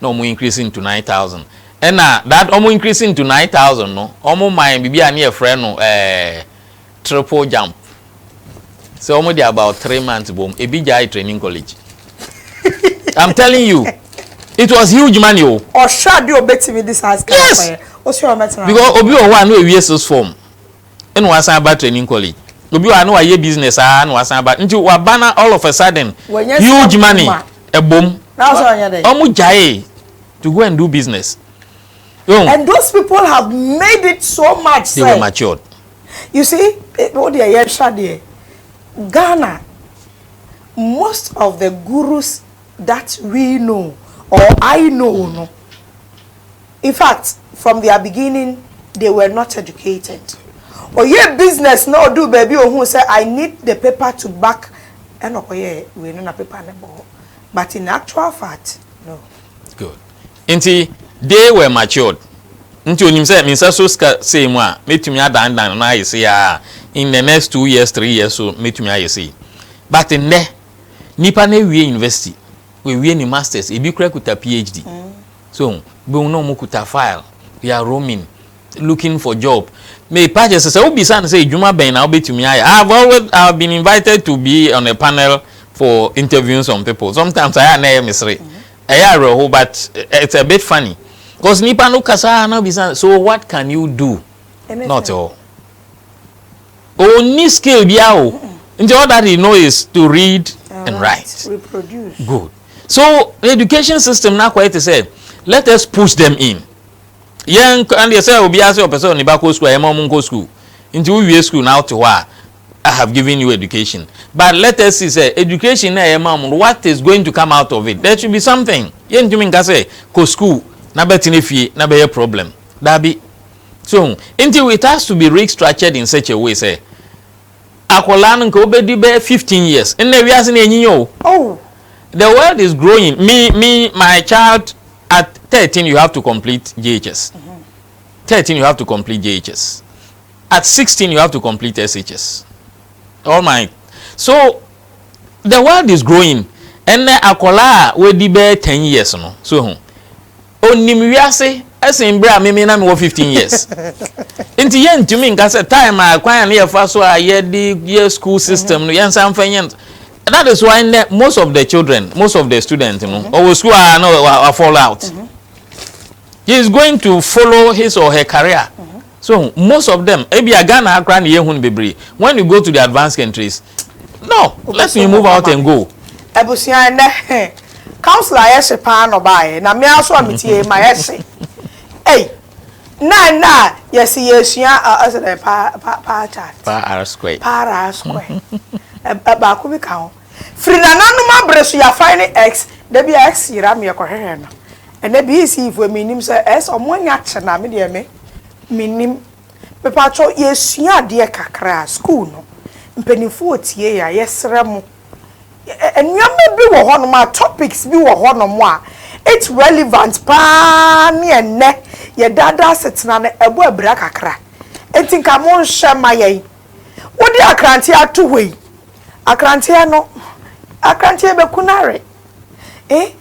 na ɔmo increase no to nine thousand ɛna that ɔmo increase no to nine thousand no ɔmo ma yɛn biribi a ne yɛfrɛ no ɛɛ triple jump sɛ ɔmo de about three months bom ebi gyae training college i'm telling you it was huge money o. ɔhwɛ adi
obetumi de saa sika yes akɔyɛ o sɛ
ɔmɛtena because
obi wɔ hɔ a na ewie
six form na wasan aba training college obi wɔ ha na wayɛ business aa na wasan aba nti waba na all of a sudden huge money ɛbom ɔmo gyae to go and do business. Oh. and
those people have made it so much they were matured.
you
see o oh, deɛ yɛn hwɛ deɛ Ghana most of the gurus. that we know or I know no infact from their beginning they were not educated ɔyɛɛ business na ɔduu baabi a ɔhuu sɛ I need the paper to back ɛna ɔkɔyɛɛ wei no na paper no bɔ hɔ but in actual fact no. Good.
Nti they were matured nti ɔnim sɛ me nsa so sika sei mu a mɛtumi adanedane no ayɛ sei aa in the next two years three years so mɛtumi ayɛ sei but nnɛ Nnipa no awie university, wawie ne masters, ebi kura kuta PhD. So, bohu na wɔn kuta file, they are roaming, looking for job. Me page sɛ sɛ wobisa no sɛ edwuma bɛn na wobɛtumi ayɛ. I have always, I have been invited to be on a panel for interviewing some people. Sometimes ayɛ a na ɛyɛ me sere. Ɛyɛ awerɛho but it's a bit funny. Because nipa no kasa na bisa so what can you do? Na ɔte hɔ. Onni skill biara o nti all that he know is to read and write good
so
education system no akɔyɛ te sɛ let us push them in yɛn ɛndeɛ sɛ obiara sɛ ɔpɛ sɛ ɔne ba kɔ school a yɛma ɔmo nkɔ school nti wowie school na wote hɔ a I have given you education but let us see sɛ education na yɛma ɔmo what is going to come out of it there should be something yɛntumi nka sɛ kɔ school na bɛtena fie na bɛyɛ problem daabi. So hu? Nti it has to be restructured in such a way sɛ akwadaa no nka ɔbɛdi bɛyɛ fifteen years. Nnɛ wiase no anyinya o. Oh.
The world
is growing. Me, me, my child at thirteen you have to complete JHS. Mm -hmm. Thirteen you have to complete JHS. At sixteen you have to complete SHS. All my so the world is growing. Nnɛ akwadaa a wɔadi bɛyɛ ten years no so hu. Ɔnim wiase sen berɛ a meme na mewɔ fifteen years. Nti yɛntumi nka sɛ time a kwan a ne yɛfa so a yɛde yɛ school system no yɛnsan mfa nyɛ no. That is why nnɛ most of the children, most of the students no ɔwɔ school a na wa fall out. He is going to follow his or her career. So hu, most of them, ebia Ghana ha koraa na yɛhu no bebree, when you go to the advanced countries, no, let me move out and go. Abusua, ɛnnɛ, he,
council a ɛyɛ hye paa na ɔbaeɛ, na me ara nso a metiee ma ɛyɛ hye. Ei! Na ɛnnɛ a yɛse yɛresua, ɛ, ɔse dɛn, pa, pa, pie chart? Pa ara square. Pa
ara
square. Ɛ, ɛ, baako bi ka ho. Firi nananom abere so yɛafae ne X, da bi a X yera me yɛkɔhwehwɛ no. Ɛnɛ BEC foɔ mennim sɛ ɛyɛ sɛ wɔn anya kye no a, me deɛ me mennim. Mepaatwɔ yɛresua adeɛ kakra a sukuu no, mpaninfoɔ ɔtie yɛn a yɛsrɛ mo nnoɔma bi wɔ hɔ nom a topics bi wɔ hɔ nom a it's relevant paa ne ɛnnɛ yɛn daadaa asetena no ɛbɔ abira kakra nti nka monhwɛ ma yɛn. Wode akranteɛ ato hɔ yi, akranteɛ no, akranteɛ bɛku no awe. Eh,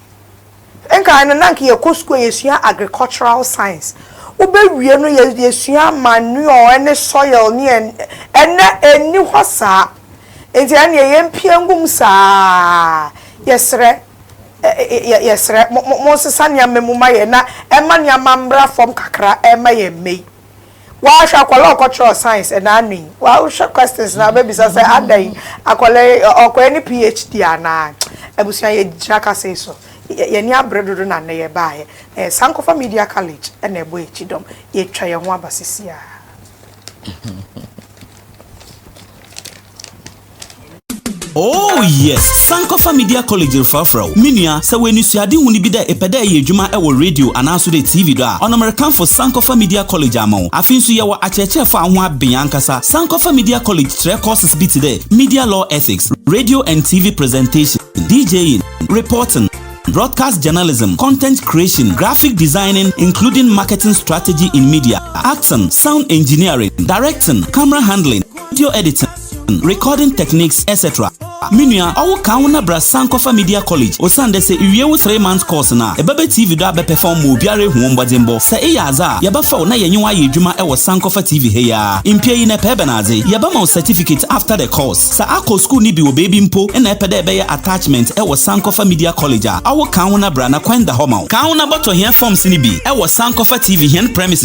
nkae no, na anka yɛkɔ sukuu a yɛsua agricultural science. Wobɛwie no, yɛsua manure ne soil ne ɛn, ɛnnɛ ɛnni hɔ saa. Nti ɛnneɛ yɛmpia ngum saa. Yɛsrɛ, yɛ, yɛsrɛ, mo, mo, monsesa nneɛma mu ma yɛn na ɛmma nneɛma mmra fam kakra mma yɛn mmɛ yi. Woahwɛ akwadaa a ɔkɔtwerɛɛ science ɛnna ano yi? Woahwɛ questions no a wobɛbisa sɛ adɛn yi, akwadaa yi ɔkɔyɛ ne PHD anaa? Abusua, yɛgyina kasɛi so. Yɛn ani abere dodo na nnɛ yɛbaeɛ. Ɛyɛ Sankofa Media College na ɛbɔ yɛn akyi dɔm. Yɛatwa yɛn ho aba seesei ara.
Oh yes, Sankofa Media College refrafra wo. Me nua, sɛ w'ani suade hu no bi dɛ epɛ dɛ ɛyɛ adwuma ɛwɔ radio anaaso dɛ TV do a, ɔnomerekamfo Sankofa Media College ama wo. Afei nso yɛwɔ akyerɛkyerɛfo a ho aben ankasa. Sankofa Media College kyerɛ courses bi te dɛ Media Law Ethics, Radio and TV Presentation, DJing, Reporting, broadcast journalism, content creation, graphic designing, including marketing strategy in media, acting, sound engineering, directing, camera handling, video editing, recording techniques etc. Me nua, ɔwo kan wo na bra Sankofa Media College osiandɛ sɛ iwie wo three months course no a, ebɛba TV do abɛperform ma obiara ehu wo mbɔdzembɔ. Sɛ eyɛ adze a, yɛbɛfa wo na yɛnye wo ayɛ edwuma wɔ Sankofa TV ha yi ara. Mmpia yi na epɛ ebɛnadze? Yɛbɛma wo certificate after the course. Sɛ akɔ skuul no bi wɔ beebi mpo na epɛ dɛ ebɛyɛ attachment wɔ Sankofa Media College a, ɔwo kan wo na bra na kwan da hɔ ma wo. Kan wo na bɔtɔ hɛn forms no bi wɔ Sankofa TV hɛn premises.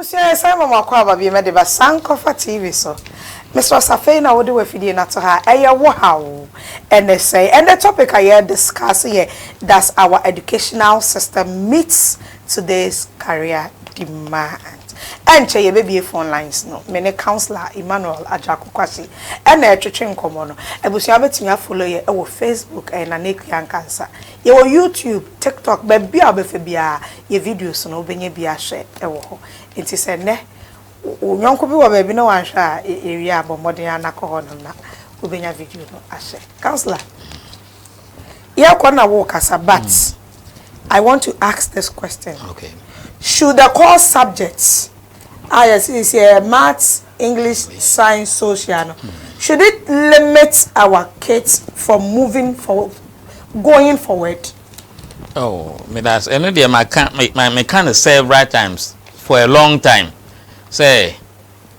Abusua yɛsan ma mo akwaaba bio mɛde ba san kɔfa TV so mesrɛ sɛ afei na wode wafidie no ato ha a ɛyɛ wo haw ɛnɛ sɛe ɛnɛ topic a yɛ discuss yɛ does our educational system meets today's career demand ɛnkyɛ yɛbɛbie phone lines no me ne councilor Emmanuel Agyarko Kwasi ɛna ɛretwetwe nkɔmmɔ no abusua wobɛtumi a follow yɛ ɛwɔ Facebook ɛyɛ Nana Akua Nkansah. Yɛwɔ YouTube, TikTok, baabi a wobɛfa biara, yɛn videos no, wobɛnya bi ahwɛ wɔ hɔ. Enti sɛ nnɛ wo yɔnko bi wɔ baabi na wanhwɛ a, yɛwie a, bɔ mmɔden ara na kɔ hɔnom na wobɛnya video no ahwɛ. Councillor, yɛrekɔ na worekasa but I want to ask this question,
should the
core subjects a yɛse seesei ɛyɛ Maths, English Science Social no, should it limit our kids from moving forward, going forward? Oh,
me that's ɛno deɛ maka meka no several times for a long time sɛ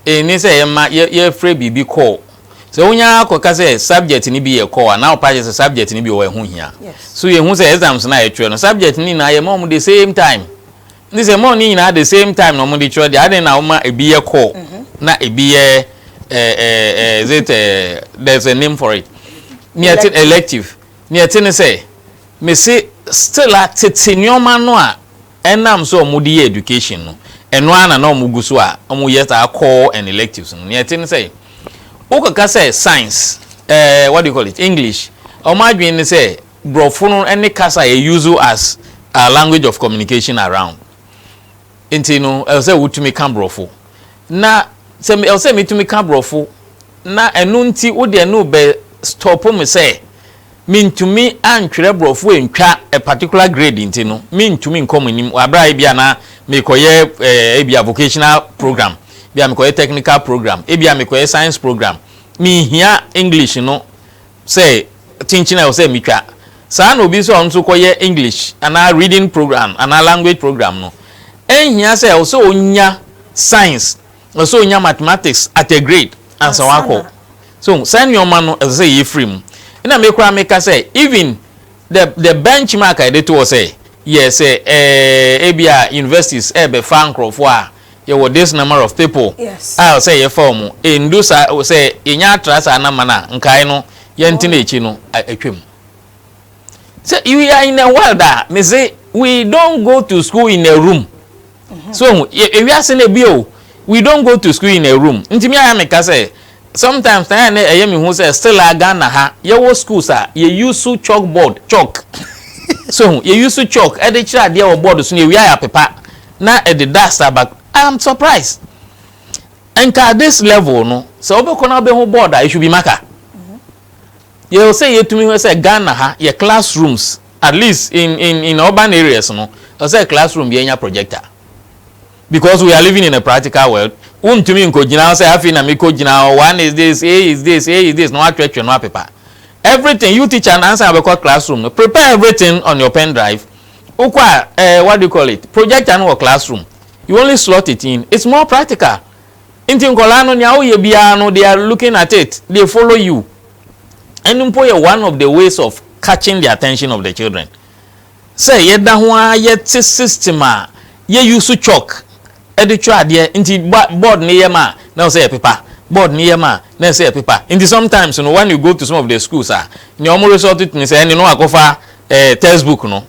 ɛni sɛ yɛma yɛfrɛ biribi kɔɔ sɛ wonya akɔka sɛ subject no bi yɛ kɔɔ a na ɔpa kyɛ sɛ subject no bi wɔ ɛho hia so yɛhu sɛ
exams
no a yɛtwerɛ no subject no nyinaa yɛma ɔmo the same time Nti sɛ mɔɔ ne nyinaa the same time na ɔmo de kyerɛ deɛ aden na woma ebi yɛ call na ebi yɛ eh, eh, eh, is it eh, there's a name for it neɛ te elective neɛ te ne sɛ mese still a tete nneɛma no a ɛnam sɛ ɔmo de yɛ education no ɛno ara na na ɔmo gu so a ɔmo yɛ saa call and electives no neɛ te ne sɛ wokɔka sɛ science eh, what do you call it English ɔmo adwene ne sɛ Brɔfo no ne kasa a yɛ use as our language of communication around nti no ɛwɔ sɛ wotumi ka brɔfo na sɛ ɛwɔ sɛ metumi ka brɔfo na ɛno nti wo deɛ no bɛ stop me sɛ mentumi antwerɛ brɔfo antwa a particular grade nti no mentumi nkɔ mo anim wɔ aberɛ a ebia na mekɔyɛ eh, ebia vocational program ebia mekɔyɛ technical program ebia mekɔyɛ science program menhia English no sɛ kyenkyen a ɛwɔ sɛ metwa. Saa ara na obi nso a ɔno nso rekɔyɛ English anaa reading programme anaa language programme no, ɛnhia sɛ ɛwɔ sɛ ɔnya science, ɛwɔ sɛ ɔnya mathematics at a grade ansa wakɔ. So saa nneɛma no ɛsɛ sɛ yɛfiri mu. Ɛna me koraa meka sɛ even the the benchmark a yɛde to hɔ sɛ yɛ sɛ ɛɛ ebia universities ɛrebɛfa nkurɔfoɔ a, yɛwɔ this number of people a sɛ yɛfa
wɔn
ɛndu saa sɛ yɛnya atra saa nama no a nkae no yɛntena akyi no atwam sɛ you are in a world a me se we don't go to school in a room mhm. so hu ewiase na ebi o we don't go to school in a room ntumi ayɛ me ka sɛ sometimes na yɛn ɛyɛ mi hu sɛ still a ghana ha yɛwɔ schools a yɛ use chalk board chalk so hu yɛ use chalk ɛde kyerɛ adeɛ wɔ board so na ewia yɛ apepa. na ɛde da Starbuck I am surprised nka at this level no sɛ wobɛkɔ na wobɛhu board a it should be marker yɛwɔ sɛ yɛtumi hwɛ sɛ Ghana ha yɛ classrooms at least in in in urban areas no ɛwɔ sɛ classroom bi anya projector because we are living in a practical world wontumi nkɔgyina sɛ afei na mekɔgyina one is this a is this a is this na watwetwe no apepa everything you teacher na ansa wobɛkɔ classroom no prepare everything on your pen drive Wokɔ a eh what do you call it projector no wɔ class room you only slot it in it's more practical nti nkwadaa no nea woyɛ biara no they are looking at it they follow you ɛno mpo yɛ one of the ways of catching the attention of the children sɛ yɛda ho ara yɛte system a yɛ use chalk de twerɛ adeɛ nti board no yɛ ma a na ɛwɔ sɛ yɛpepa board no yɛ ma a na ɛwɔ sɛ yɛpepa nti sometimes no when you go to some of the schools a nea wɔn resort to ne sɛ ɛne no akɔfa eh, text book no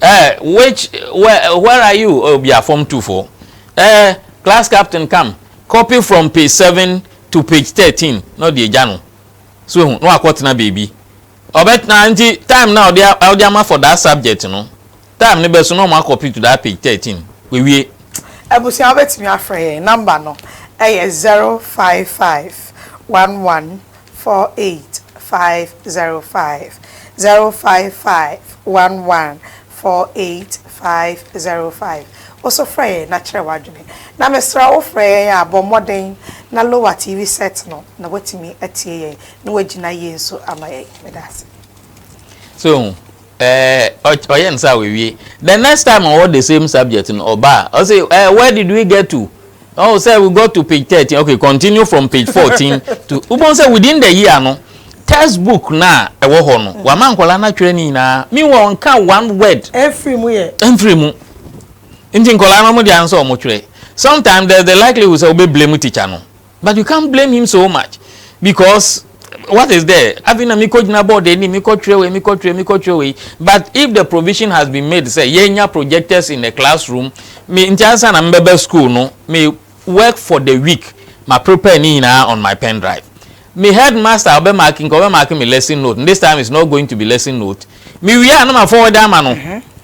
eh, which where, where are you oh, be a form two for eh, class captain come copy from page seven to page thirteen na ɔde agya no so ehu na wakɔtena beebi ɔbɛtena nti time na ɔde ɔde ama for that subject no. Time no bɛso na ɔmo akɔ pit daa page thirteen wewie. Abusua
wobɛtumi afrɛ yɛn number no ɛyɛ zero five five one one four eight five zero five zero five five one one four eight five zero five woso frɛ yɛn na kyerɛ wadwene na mesrɛ wo wofrɛ yɛn a bɔ mmɔden na lower TV set no na watumi atie yɛn na wagyina yie nso ama yɛn meda ase. So
Eh ɔyɛ no saa a wawie. The next time ɔwɔ the same subject no ɔba a ɔse eh where did we get to? Oh sir we got to page thirteen okay continue from page fourteen to wobɛhu sɛ within the year no text book no a ɛwɔ hɔ no wama nkwadaa no atwerɛ ne nyinaa meanwhile ɔnka one word ɛmfiri mu yɛ
ɛmfiri mu
nti nkwadaa no wɔn deɛ ano sɛ wɔn twerɛ sometimes there is the likelihood sɛ wobɛ blame teacher no But you can't blame him so much because what is there? Afei na mekɔ gyina board anim, mekɔ twerɛ wei, mekɔ twerɛ, mekɔ twerɛ wei. But if the provision has been made sɛ yɛnya projectors in the classroom, me nti ansa na mebɛba school no, me work for the week, ma prepare ne nyinaa on my pen drive. Me headmaster ɔbɛmark nka ɔbɛmark me lesson note, this time it's not going to be lesson note. Mewie a na ma forward ama no.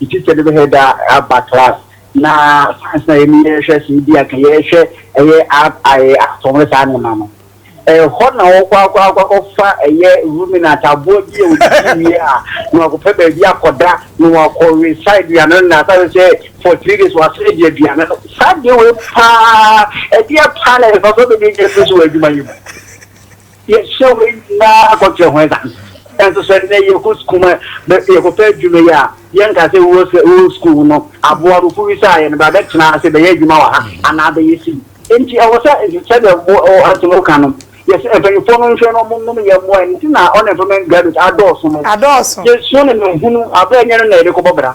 Me teacher no bɛhɛ da aba class na science na yɛn yɛhwɛ sɛ ebi aka yɛhwɛ ɛyɛ art ayɛ atom ne saa nneɛma no ɛhɔ na wɔkɔ akɔ akɔ akɔfa ɛyɛ ruminant aboa bi a wɔdidi wie a na wakɔpɛ baabi akɔda na wakɔwe saa aduane no na asase sɛ for three days wasɛ adi aduane no saa deɛ wei paa ɛdeɛ paa na ɛfa so bɛbi ɛnyɛ so so wɔ adwuma yi mu. Yɛhwɛ wei nyinaa kɔkyerɛ ho dza. Naaso sɛ ndɛ yɛkɔ skuul ma yɛkɔpɛ edwuma yi a, yɛnnkaa sɛ ewuo sɛ ewɔ skuul no, abowa no, kobisaa hɛn, Bra bɛtsena ase bɛyɛ edwuma wɔ ha anaa bɛyɛ sii? Ntsi ɔwɔ sɛ sɛdeɛ wo asɛm no ka no, yɛsɛ mpanyimfoɔ no nhwɛ na wɔnom yɛn mmoa. Ɛno nti na unemployment graduates adɔɔso no. Adɔɔso. Yɛnsuo no na hunu aberɛ nyɛ no na yɛde kɔbɔ bra.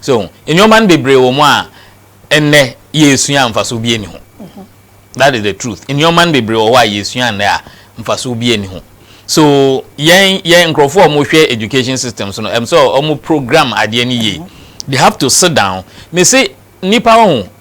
So, nnoɔma no bebree wɔ mu a nnɛ yɛresua a mfasoɔ biara nni ho. That is the truth. Nnoɔma no bebree wɔ hɔ a yɛresua nnɛ a mfasoɔ biara nni ho. So, yɛn, yɛn nkurɔfoɔ a wɔhwɛ education systems no, ɛm sɛ wɔn program adeɛ no yie. They have to sit down. Mese, nnipa ho,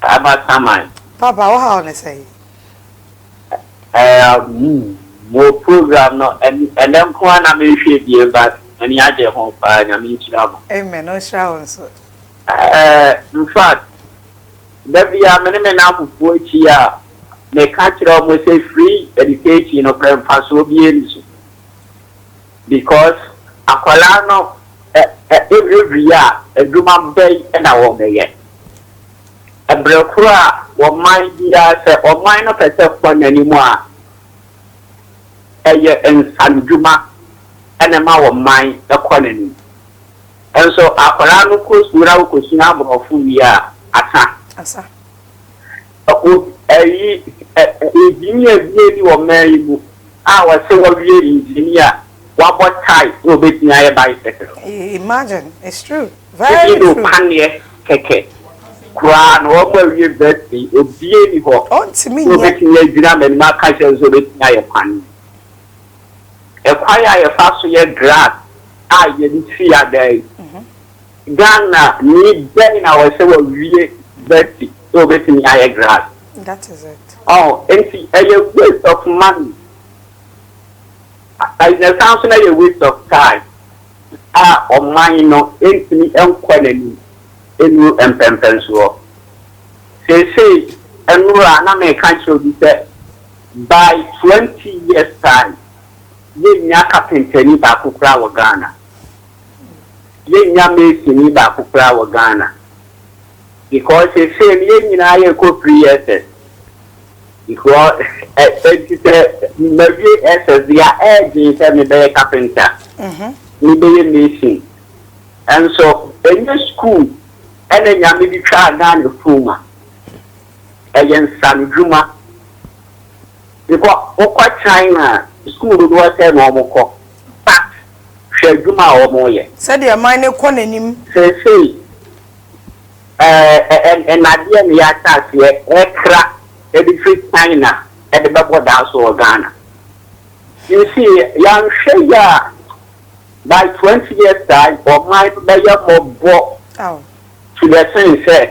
Papa Saman. Papa wo haw ne
sɛn? Ɛɛ
mo program no ɛnɛ nko ara na me hwɛ bie but m'ani agye ho paa Nyame nhyira mo. Amen ɔnhyira
wo nso. Ɛɛ
infact da biara me ne me nnamfofoɔ hyia a me ka kyerɛ wɔn sɛ free education no korɛ mfasoɔ biara nni so. Because akwadaa no every year adwuma bɛn na wɔbɛyɛ? Ɛbrɛ koro a ɔman biara sɛ ɔman no pɛ sɛ kɔ n'anim a ɛyɛ nsanodwuma na ɛma ɔman kɔ n'anim. Nso akwadaa no kɔ sukuu na ɔkɔ sua aborɔfo wie a asa. O, ayi ɛ, engineer bi ni wɔ man yi mu a ɔse wawie engineer, wabɔ tie na obetumi ayɛ bicycle. Imagine,
it's true, very true. Ebi de paneɛ kɛkɛ
koraa na wɔn a awie university obie ni hɔ sɛ obetumi
agyina m'anim
aka akyerɛ me sɛ obetumi ayɛ paneɛ. Ɛkwan a yɛfa so yɛ glass a yɛde si adan. Ghana ni bɛn na ɔsɛ wawie vɛsi sɛ obetumi ayɛ grass? That is it.
Ɔho nti
ɛyɛ waste of money a na ɛsan so na ɛyɛ waste of time a ɔman no ntumi nkɔ n'anim nnuru mpɛmpɛnsoɔ. Seesei nnora a na meka kyerɛ obi sɛ by twenty years time yɛnnya kapentani baako koraa wɔ Ghana. Yennya masoni baako koraa wɔ Ghana because seesei no yɛn nyinaa yɛkɔ free SS because enti sɛ mawie SS deɛ a ɛɛdwen sɛ mebɛyɛ carpenter, mebɛyɛ mason nso ɛnyɛ school ɛna Nyame de twaa Ghana fuu ma ɛyɛ nsanodwuma because wokɔ China a school dodoɔ sɛn na wɔkɔ but Hwɛ adwuma a wɔreyɛ. Sɛdeɛ man no rekɔ
n'anim. Seesei,
ɛɛ, nnadeɛ na yɛahyɛ aseɛ rekra de firi China de bɛbɔ daa so wɔ Ghana. You see, yɛanhwɛ yie a, by twenty years time, ɔman no bɛyɛ mmɔbɔ to the sen sɛ.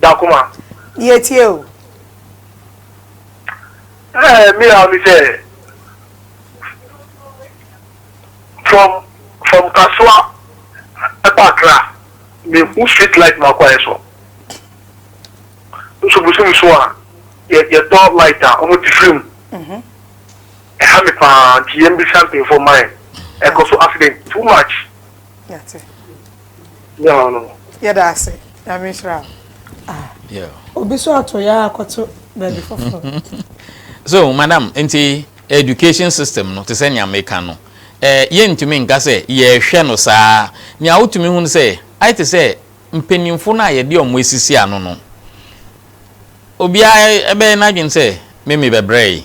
Da
koma. Yɛtie
o.
Ɛɛ me yaw ne sɛ from from Kasoa ɛkɔ Accra me hu street light ma kɔ ayɛ so nso bosom so a yɛ yɛ tɔ light a ɔmo te firi mu ɛha me paa nti yɛn bisa mpanyinfoɔ man ɛkɔ so accident too much.
Nyaw
no. Yɛda ase.
Nyame nhyira wo. Ah.
Yeah. Obi so ato
ya akɔto baabi
foforo. So, madam, nti education system no te sɛ nea meka no, eh, yɛntumi nka sɛ yɛrehwɛ no saa. Nea wotumi hu no sɛ, ayɛ te sɛ mpanyimfo no a yɛde wɔn asisi ano no, obiara ɛbɛyɛ n'adwene sɛ me mebɛbrɛe.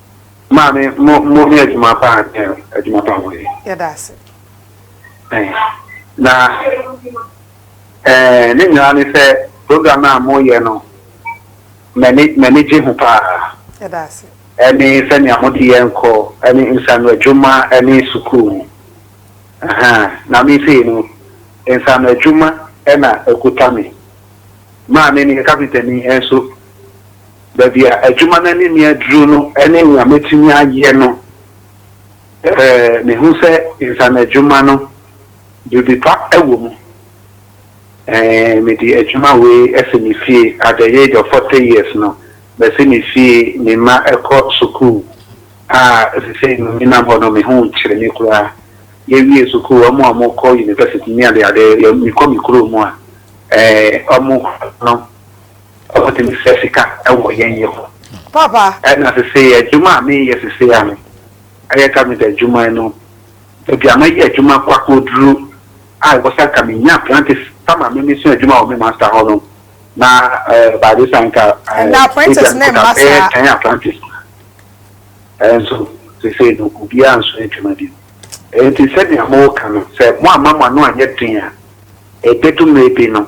Maame mo mo yɛ adwuma paa ɛ adwuma paa mo yɛ. Yɛda ase.
Ɛn na
ɛɛ ne nyinaa ne sɛ program a mo yɛ no mɛni mɛni gye ho paa. Yɛda ase.
Ɛne sɛnea mo
de yɛn kɔ ɛne nsano adwuma ɛne sukuu no ahaa na me sei no nsano adwuma ɛna ɛkuta me. Maame no yɛ kapentani ɛnso baabi a adwuma no anim yɛ duru no ne nea metumi ayɛ no, ɛɛ, mehu sɛ nsanadwuma no, biribi pa wɔ mu. Ɛɛ, mede adwuma wei asi me fie. At the age of forty years no, masi me fie, me mma kɔ sukuu a seesei no menam hɔ no, me ho nkyere me koraa. Yɛwie sukuu, wɔn a wɔkɔ university ne adeade, mekɔ me kurom a, ɛɛ, wɔn no, Wotumi sua sika wɔ yɛn yɛ hɔ.
Papa. Ɛna sesei
adwuma a meyɛ sesei a no ɛyɛ carpenter adwuma no baabi a mɛyɛ adwuma kɔ akɔduru a ɛwɔ sɛ anka menya apprentice ama me mesua adwuma wɔ me master hɔ no na by this time anka apprentice
ne mma saa ɛyɛ ten apprentice
ɛnso sesei no obiara nso adwuma bi ɛnti sɛnea mo ka no sɛ mo amma mo ano anyɛ den a ɛbɛdu mmerɛ bi no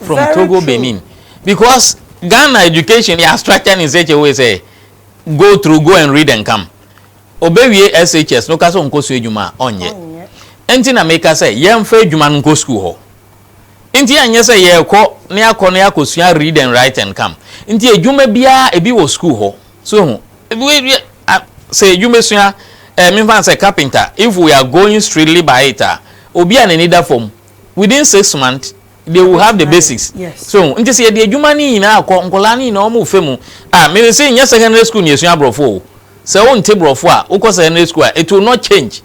from Very Togo, true.
Benin. Because Ghana education yɛ structured in such a way sɛ go through, go and read and come. Obewie SHS no ka sɛ ɔnkɔ so adwuma a ɔnyɛ. Ɔnyɛ. Nti na meka sɛ yɛmfa adwuma no nkɔ sukuu hɔ. Nti ɛnyɛ sɛ yɛrekɔ na yɛakɔ na yɛakɔsua read and write and come. Nti adwuma biara ebi wɔ sukuu hɔ. So hu, sɛ adwuma sua, eh, memfa no sɛ carpenter, if we are going strictly by it a, obi a n'ani da fam within six months they will have the basics so hu nti sɛ yɛde
adwuma
no nyinaa kɔ nkɔlaa no nyinaa ɔmo fɛ mu a mene sɛ nyɛ secondary school na yɛsua borɔfo o sɛ wonte borɔfo a wokɔ secondary school a it will not change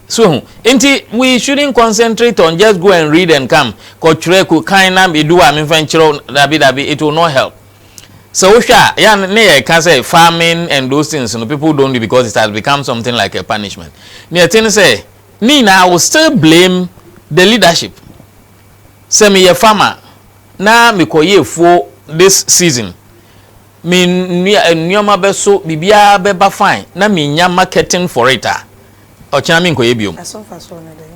so hu nti we shouldn't concentrate on just go and read and come kɔtwerɛ kɔ kan na edu a memfa nkyerɛw dabi dabi it will not help sɛ wohwɛ a yɛ ne yɛ ka sɛ farming and those things no people don't do because it has become something like a punishment ne ɛte ne sɛ Ne nyinaa I will still blame the leadership sɛ me yɛ farmer na me kɔ yɛ afuo this season me nnua nnoɔma bɛ so biribiara bɛ ba fine na me nya marketing for it a ɔkyena me nkɔ yɛ biom. Ɛso mfasoɔ ne dɛn?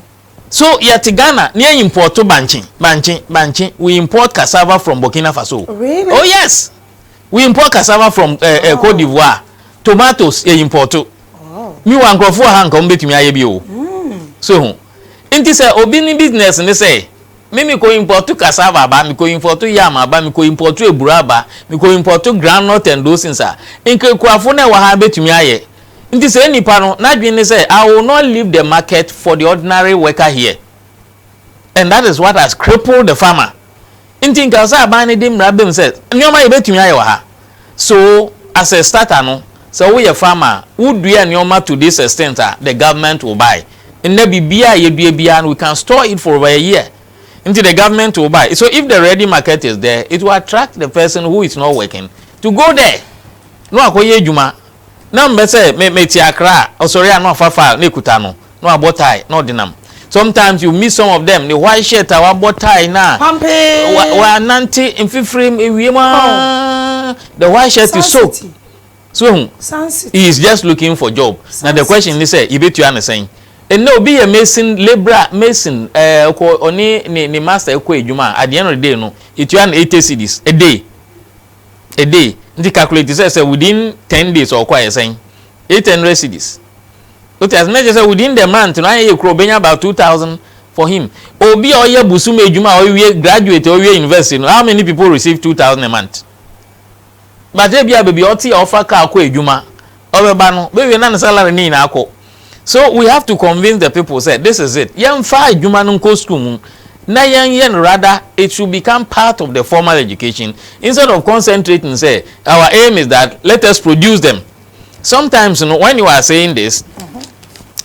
So yɛ te Ghana na yɛ import bankye, bankye, bankye we import cassava from Burkina Faso o oh yes! We import cassava from eh, eh, Cote d'Ivoire. Tomatoes yɛ import. Mi wa nkurɔfo wɔ ha nka wɔn betumi ayɛ bi o. So ho. Nti sɛ obi ne business ne sɛ, me me kɔ import cassava aba, me kɔ import yam aba, me kɔ import eburo aba, me kɔ import groundnut and those things a, nkekurafo na ɛwɔ ha betumi ayɛ. Nti sɛ nipa no n'adwene ne sɛ, I will not leave the market for the ordinary worker here. and that is what has crippled the farmer nti nka ɔsɛ aban no de mmara bem sɛ nneɛma yɛbɛtumi ayɛ wɔ ha so as a starter no sɛ woyɛ farmer a wodua nneɛma to this extent a the government will buy nnɛ biribiara a yɛdua biara no we can store it for over a year nti the government will buy so if the ready market is there it will attract the person who is not working to go there na wakɔyɛ adwuma Na mepɛ sɛ me me te akra a ɔsɔre a na wafa file na ekuta no na wabɔ tie na ɔde nam sometimes you miss some of them ne white shirt a wabɔ tie na wa wa
nante
mfifire ewiem aa the white shirt is soaked so ehu he is just looking for job na the question ne sɛ yebetua ne sɛn ɛnna obi yɛ mason labourer mason ɛɛ ɔkɔ ɔne ne ne master ɛkɔ edwuma a at the end of the day no yetua no eighty cedis a day. a day nti calculate sɛ sɛ within ten days ɔkɔ ayɛ sɛn eight hundred cedis o ti ase na kyerɛ sɛ within the month no ayɛ yɛ kura obenya about two thousand for him obi a ɔyɛ busum adwuma a ɔwie graduate ɔwie university no how many people receive two thousand a month but ebi a beebi ɔte a ɔfa car kɔ adwuma Ɔbɛba no, bɛwie na ne salary no nyinaa kɔ. So we have to convince the people sɛ this is it, yɛmfa adwuma no nkɔ school mu na yɛnyɛ no rather it should become part of the formal education instead of concentrating sɛ our aim is that let us produce them. Sometimes no when you are saying this,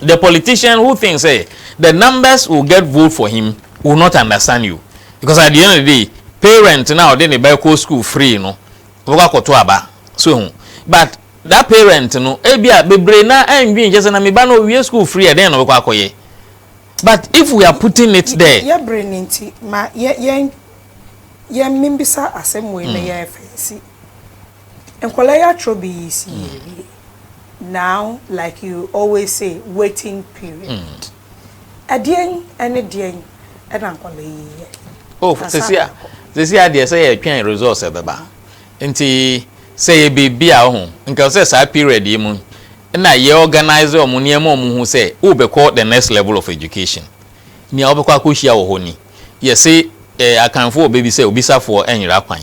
the politician who thinks sɛ the numbers will get vote for him will not understand you because at the end of the day parent no a ɔde ne ba kɔ school free no, Ɔbɛkɔ akɔto aba. So ehu? But that parent no, ebia bebree na ɛndwen nkyɛ sɛ na me ba no owie school firi ɛ, dɛn na ɔbɛkɔ akɔyɛ? But if we are putting it there. Yɛ bere no nti,
ma yɛ yɛn yɛn mmebisa asɛm wei na yɛn fa nsi. Nkwadaa yi atwerɛ bi yi si yɛ wie. Now like you always say waiting period. Ɛdeɛn ne deɛn na nkwadaa yi yɛ? Oh, sisi a,
sisi a deɛ sɛ yɛtwɛn results ɛbɛba. Nti sɛ yɛ biribi a ɔho, nka ɔsɛ saa period yi mu na yɛ organize wɔn nneɛma wɔn hu sɛ wobɛkɔ the next level of education. Nea wobɛkɔ akɔhyia wɔ hɔ ni. Yɛse eh, Akanfoɔ wɔ bɛ bi sɛ obisafoɔ nyera kwan.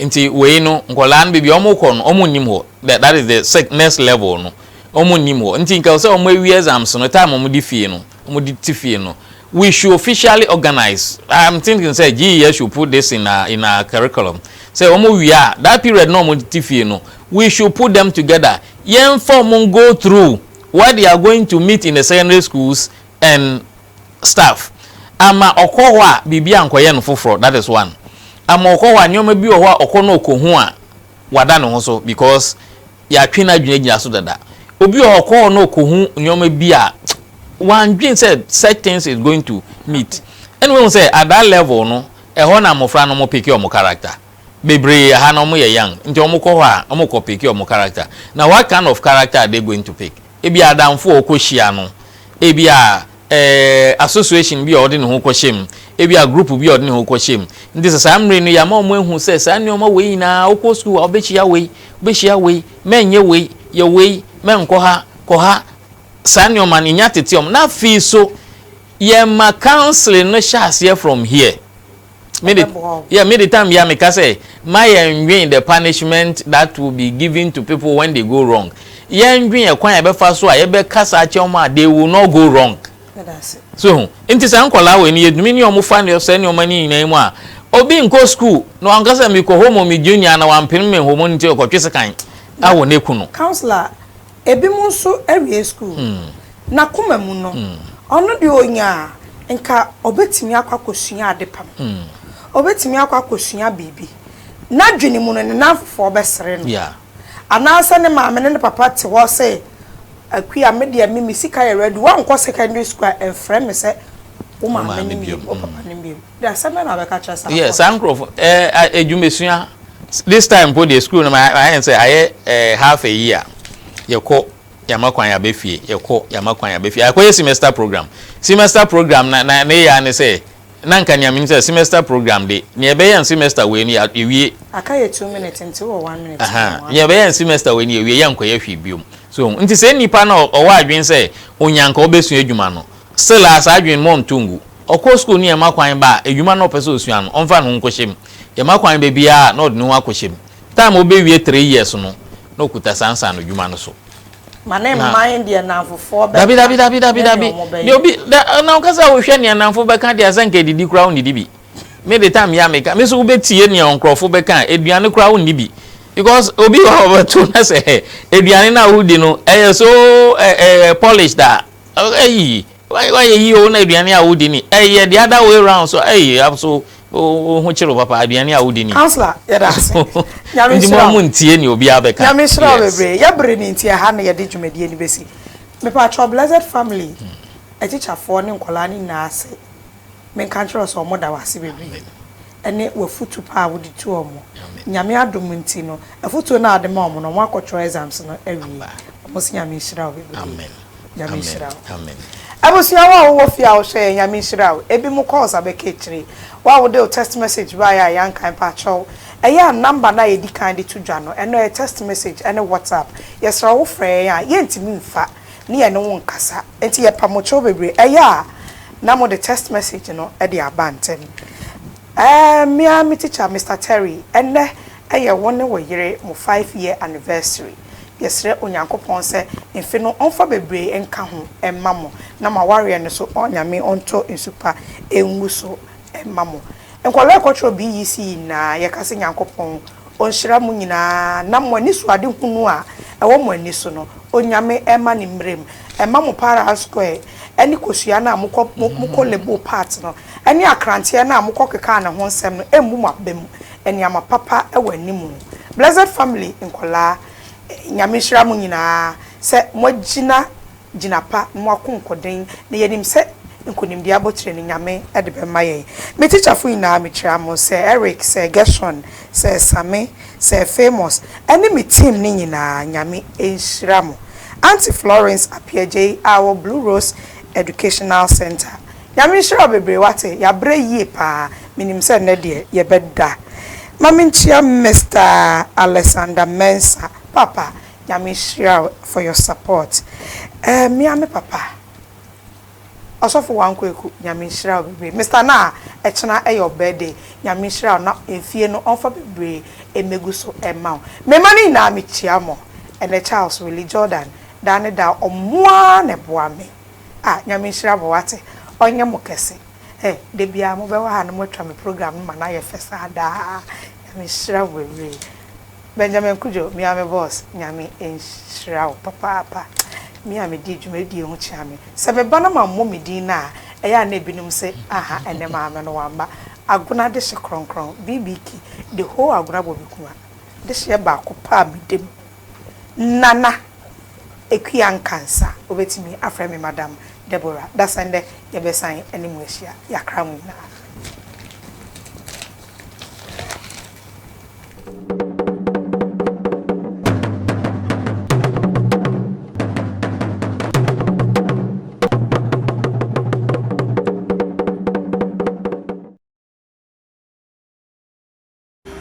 Nti wei no nkwadaa no baabi a wɔkɔ no wɔn nnim hɔ that that is the sec next level no wɔn nnim hɔ nti nka sɛ wɔn awie exams no time wɔn de fie no wɔn de ti fie no we should officially organize I am thinking sɛ GES should put this in our in our curriculum sɛ wɔn wie a that period na wɔn de ti fie no we should put them together yɛn fa wɔn go through what they are going to meet in the secondary schools and staff ama ɔkɔ hɔ a biribi ankɔyɛ no foforɔ that is one ama ɔkɔ hɔ a nneɛma bi wɔ hɔ a ɔkɔ na ɔkɔ hu a wada ne ho so because yɛatwe n'adwene agyina so dada obi wɔ hɔ ɔkɔ hɔ na ɔkɔ hu nneɛma bi a wandwen sɛ such things is going to meet ɛna wɔn sɛ at that level no ɛhɔ na mmɔfra no wɔn peke wɔn character bebree ɛha na wɔn yɛ young nti wɔn kɔ hɔ a wɔn kɔ peke wɔn character na what kind of character are they going to pick. Ebia adamfo a ɔkɔhyia no, ebia association bi a ɔde ne ho kɔhyɛ mu, ebia group bi a ɔde ne ho kɔhyɛ mu. Nti sɛ saa mmere no, yɛama wɔn ahu sɛ saa nneɛma wei nyinaa, wokɔ sukuu a wobɛhyia wei, wobɛhyia wei, mɛnyɛ wei, yɛ wei, mɛnkɔ ha, kɔ ha, saa nneɛma no, yɛnya tete wɔn. Na afei nso, yɛma counseling no hyɛ aseɛ from here. Me de, yeah, me the time bia me ka sɛ, ma yɛn dwen the punishment that will be given to people when they go wrong. Yɛn dwen ɛkwan a yɛbɛfa so a yɛbɛkasa akyɛ wɔn a they will not go wrong.
So ho, nti saa
nkɔlaa wɔ yi no yɛtumi ne wɔn fa ne saa nneɛma no nyinaa mu a, obi nkɔ school na wanka sɛ mekɔ home me junior na wampene me home no nti ɔkɔtwe sekan awɔ ne kunu. Councillor,
Ebinom nso awie sukuu, n'akoma mu no, ɔno deɛ ɔnya a, nka ɔbɛtumi akɔ akɔsua adepam. Ɔbɛtumi akɔ akɔsua biribi. N'adwene mu no, ne nnamfofoɔ bɛsere no. Anaasɛ
ne
maame ne ne papa te hɔ se, Akua, me deɛ, me me sika yɛ ready, woankɔ secondary sukuu a, mfrɛ me sɛ wo maame no bio, wo papa no bio. Asɛm bɛn na wobɛka akyerɛ saa nkurɔfo no? Yes, saa nkurɔfo,
eh, adwumasua, this time mpo deɛ school no ayɛ ne sɛ ayɛ eh, half a year, yɛkɔ yɛama kwan yɛaba fie, yɛkɔ yɛama kwan yɛaba fie, akɔyɛ semester program, semester program na na ne yɛ ne sɛ, na nka nea menim sɛ semester program de, nea ɛbɛyɛ no semester wei no yɛwie. Aka yɛ two minutes
nti wɔ one minute. Aha, nea ɛbɛyɛ no semester
wei no yɛwie, yɛnkɔyɛ hwee biom. So, nti sɛ nipa no ɔwɔ adwene sɛ onyanka ɔbɛsua adwuma no, Silas adwen mɔ nto ngu. Ɔkɔ skuul no yɛma kwan ba a edwuma na ɔpɛ sɛ osua no ɔmfa ne ho nkɔhyɛ mu. Yɛma kwan ba biara a na ɔde ne ho akɔhyɛ mu. Taem a obewie three years no na ɔkuta saa nsaano dwuma no so. Ma ne mma yɛn
deɛ nnamfofoɔ bɛka Dabi dabi dabi dabi ne nea dabi.
wɔn Deɛ bɛyɛ. obi da na ɔka sɛ wohwɛ nea nnamfo bɛka deɛ a sɛ nka edidi koraa wonnidi bi. Me de taem yi a meka me nso wobetie nea ɔnkorɔfo bɛka a aduane koraa wonni bi because obi wɔ hɔ a ɔbɛto na sɛ aduane no a woredi no ɛyɛ so ɛ ɛ polished a Ei, woayɛ yie o na aduane a wodi ni. Ɛyɛ the other way round so ei so wo ho kyere wo papa aduane a wodi ni. Councillor yɛda
ase. Nyame nhyira wo. Nti mo
ntie nea obiara bɛka. Nyame nhyira wo bebree. Yɛ
bere ni nti ɛha na yɛde dwumadie no bɛsi. Mepatrɔ Blessed Family atikyafoɔ ne nkwadaa no nyinaa ase. menka nkyerɛ wo sɛ wɔn da wo ase bebree ɛne w'afutu pa a wode tu wɔn. Nyame adom nti no afutuo no a wode ma wɔn no wɔn akɔ twerɛ exams no awie. Wɔn se Nyame nhyira wo bebree. Nyame
nhyira wo. Abusua wo a
wowɔ fie a wohwɛ yɛn Nyame nhyira wo. Ebi mo calls abɛka akyire. Wo a wode wo text message baeɛ a yɛankan mpakyɛw. Ɛyɛ a number no a yɛdi kan de to dwa no ɛno ɛyɛ text message ɛne WhatsApp. Yɛsrɛ wo frɛ yɛn a yɛntumi mfa. ne yɛne wo nkasa. Enti yɛpa mo kyɛw bebree. Ɛyɛ a na mode text message no de aba ntɛm. Ɛɛ, me ara me tikya, Mister Terry, ɛnnɛ yɛ wo ne wo yere mo five year anniversary. Yɛsrɛ Onyankopɔn sɛ mfe no ɔmfa bebree nka ho mma mo na mo awareɛ no so Onyame ɔntɔ nsu pa ngu so Mma mo. Nkwadaa ɛkɔtwerɛ BEC nyinaa yɛkase Nyankopɔn ɔnhyira mo nyinaa na mo ani so ade hunu a ɛwɔ mo ani so no Onyame ɛma ne mmerem ɛma mo para and square ɛne kosua no a mokɔ mokɔ label part no ɛne akranteɛ no a mokɔ kekaa ne ho nsɛm no ɛmmu mo aba mu nneɛma papa ɛwɔ anim Blessed family nkwadaa Nyame nhyira mo nyinaa sɛ moagyina gyina pa ma wakonkɔden, na yɛnim sɛ nkonimdie abotire no Nyame de bɛma yɛn. Me tikyafo nyinaa mekyira mo, Sir Eric, Sir Gershon, Sir Same, Sir Famous, ɛne me team no nyinaa, Nyame nhyira mo. Auntie Florence Appiagyei a ɔwɔ Blue Rose Educational Centre, Nyame nhyira wo bebree, wate, yɛabrɛ yie paa, menim sɛ nnɛ deɛ yɛbɛda. Ma menkyia Mister Alexander Mensah, Papa, Nyame nhyira wo for your support eh me ara me papa Ɔsɔfo Wan Kweku Nyame nhyira wo bebree Mister Naa ɛkyena ɛyɛ wo birthday Nyame nhyira wo na efie no ɔnfa bebree mmegu so mma wo Me mma no nyinaa me kyia mo ɛnɛ Charles Willie Jordan daa ne daa ɔmo ara na ɛboa me ah Nyame nhyira mo wate ɔnyɛ mo kɛse eh Da biara mo bɛwɔ ha na mo atwa me program no ma no ayɛ fɛ saa daa Nyame nhyira mo bebree. Benjamin Kudjo, me ara me boss, Nyame nhyira wo papaapa. Me a medi dwumadie ho kyea me. Sɛ meba na mammɔ me din no a, ɛyɛ a na ebinom se, aha, ɛnnɛ maame no wamma. Agona dehye kronkron, BBK, the whole Agona Bobekua, dehyeɛ baako pɛ a meda mu. Nana Akua Nkansa, wobɛtumi afrɛ me Madam Deborah. Dasɛndɛ yɛbɛsan ne mo ahyia. Yɛakra mo nyinaa.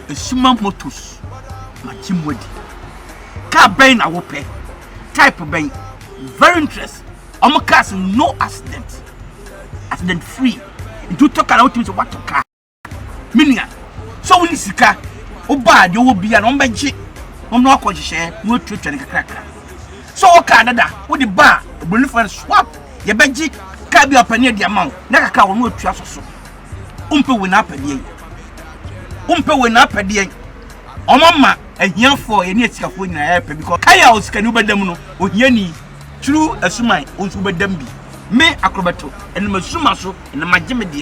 Esuma Motors magye mu adi. Kaa bɛn na wopɛ? Type bɛn? Very interesting. Ɔmo cars no accident. Accident free. Nti wotɔ kaa na wotumi sɛ woatɔ kaa. Me nua, sɛ wonni sika, woba a, deɛ ɔwɔ biara no, wɔbɛgye na wɔde wo akɔ nhyehyɛeɛ na wɔatuatua no kakrakra. Sɛ ɔwɔ kaa dada a, wode ba a, Oburoni frɛ no swap, yɛbɛgye kaa bi a ɔpɛ no yɛde ama wo na kakra a wɔne wo atua so so. Wompɛ wei na apɛ deɛn? Wompɛ wei na apɛ deɛn? Wɔama ahiafoɔ, yɛne asikafoɔ nyinaa yɛrepɛ because kan a osikani wobɛda mu no, ohiani, turu asuman, wo nso wobɛda mu bi. Me, Akorɔbɛto, ɛnam asuma so na magye me deɛ.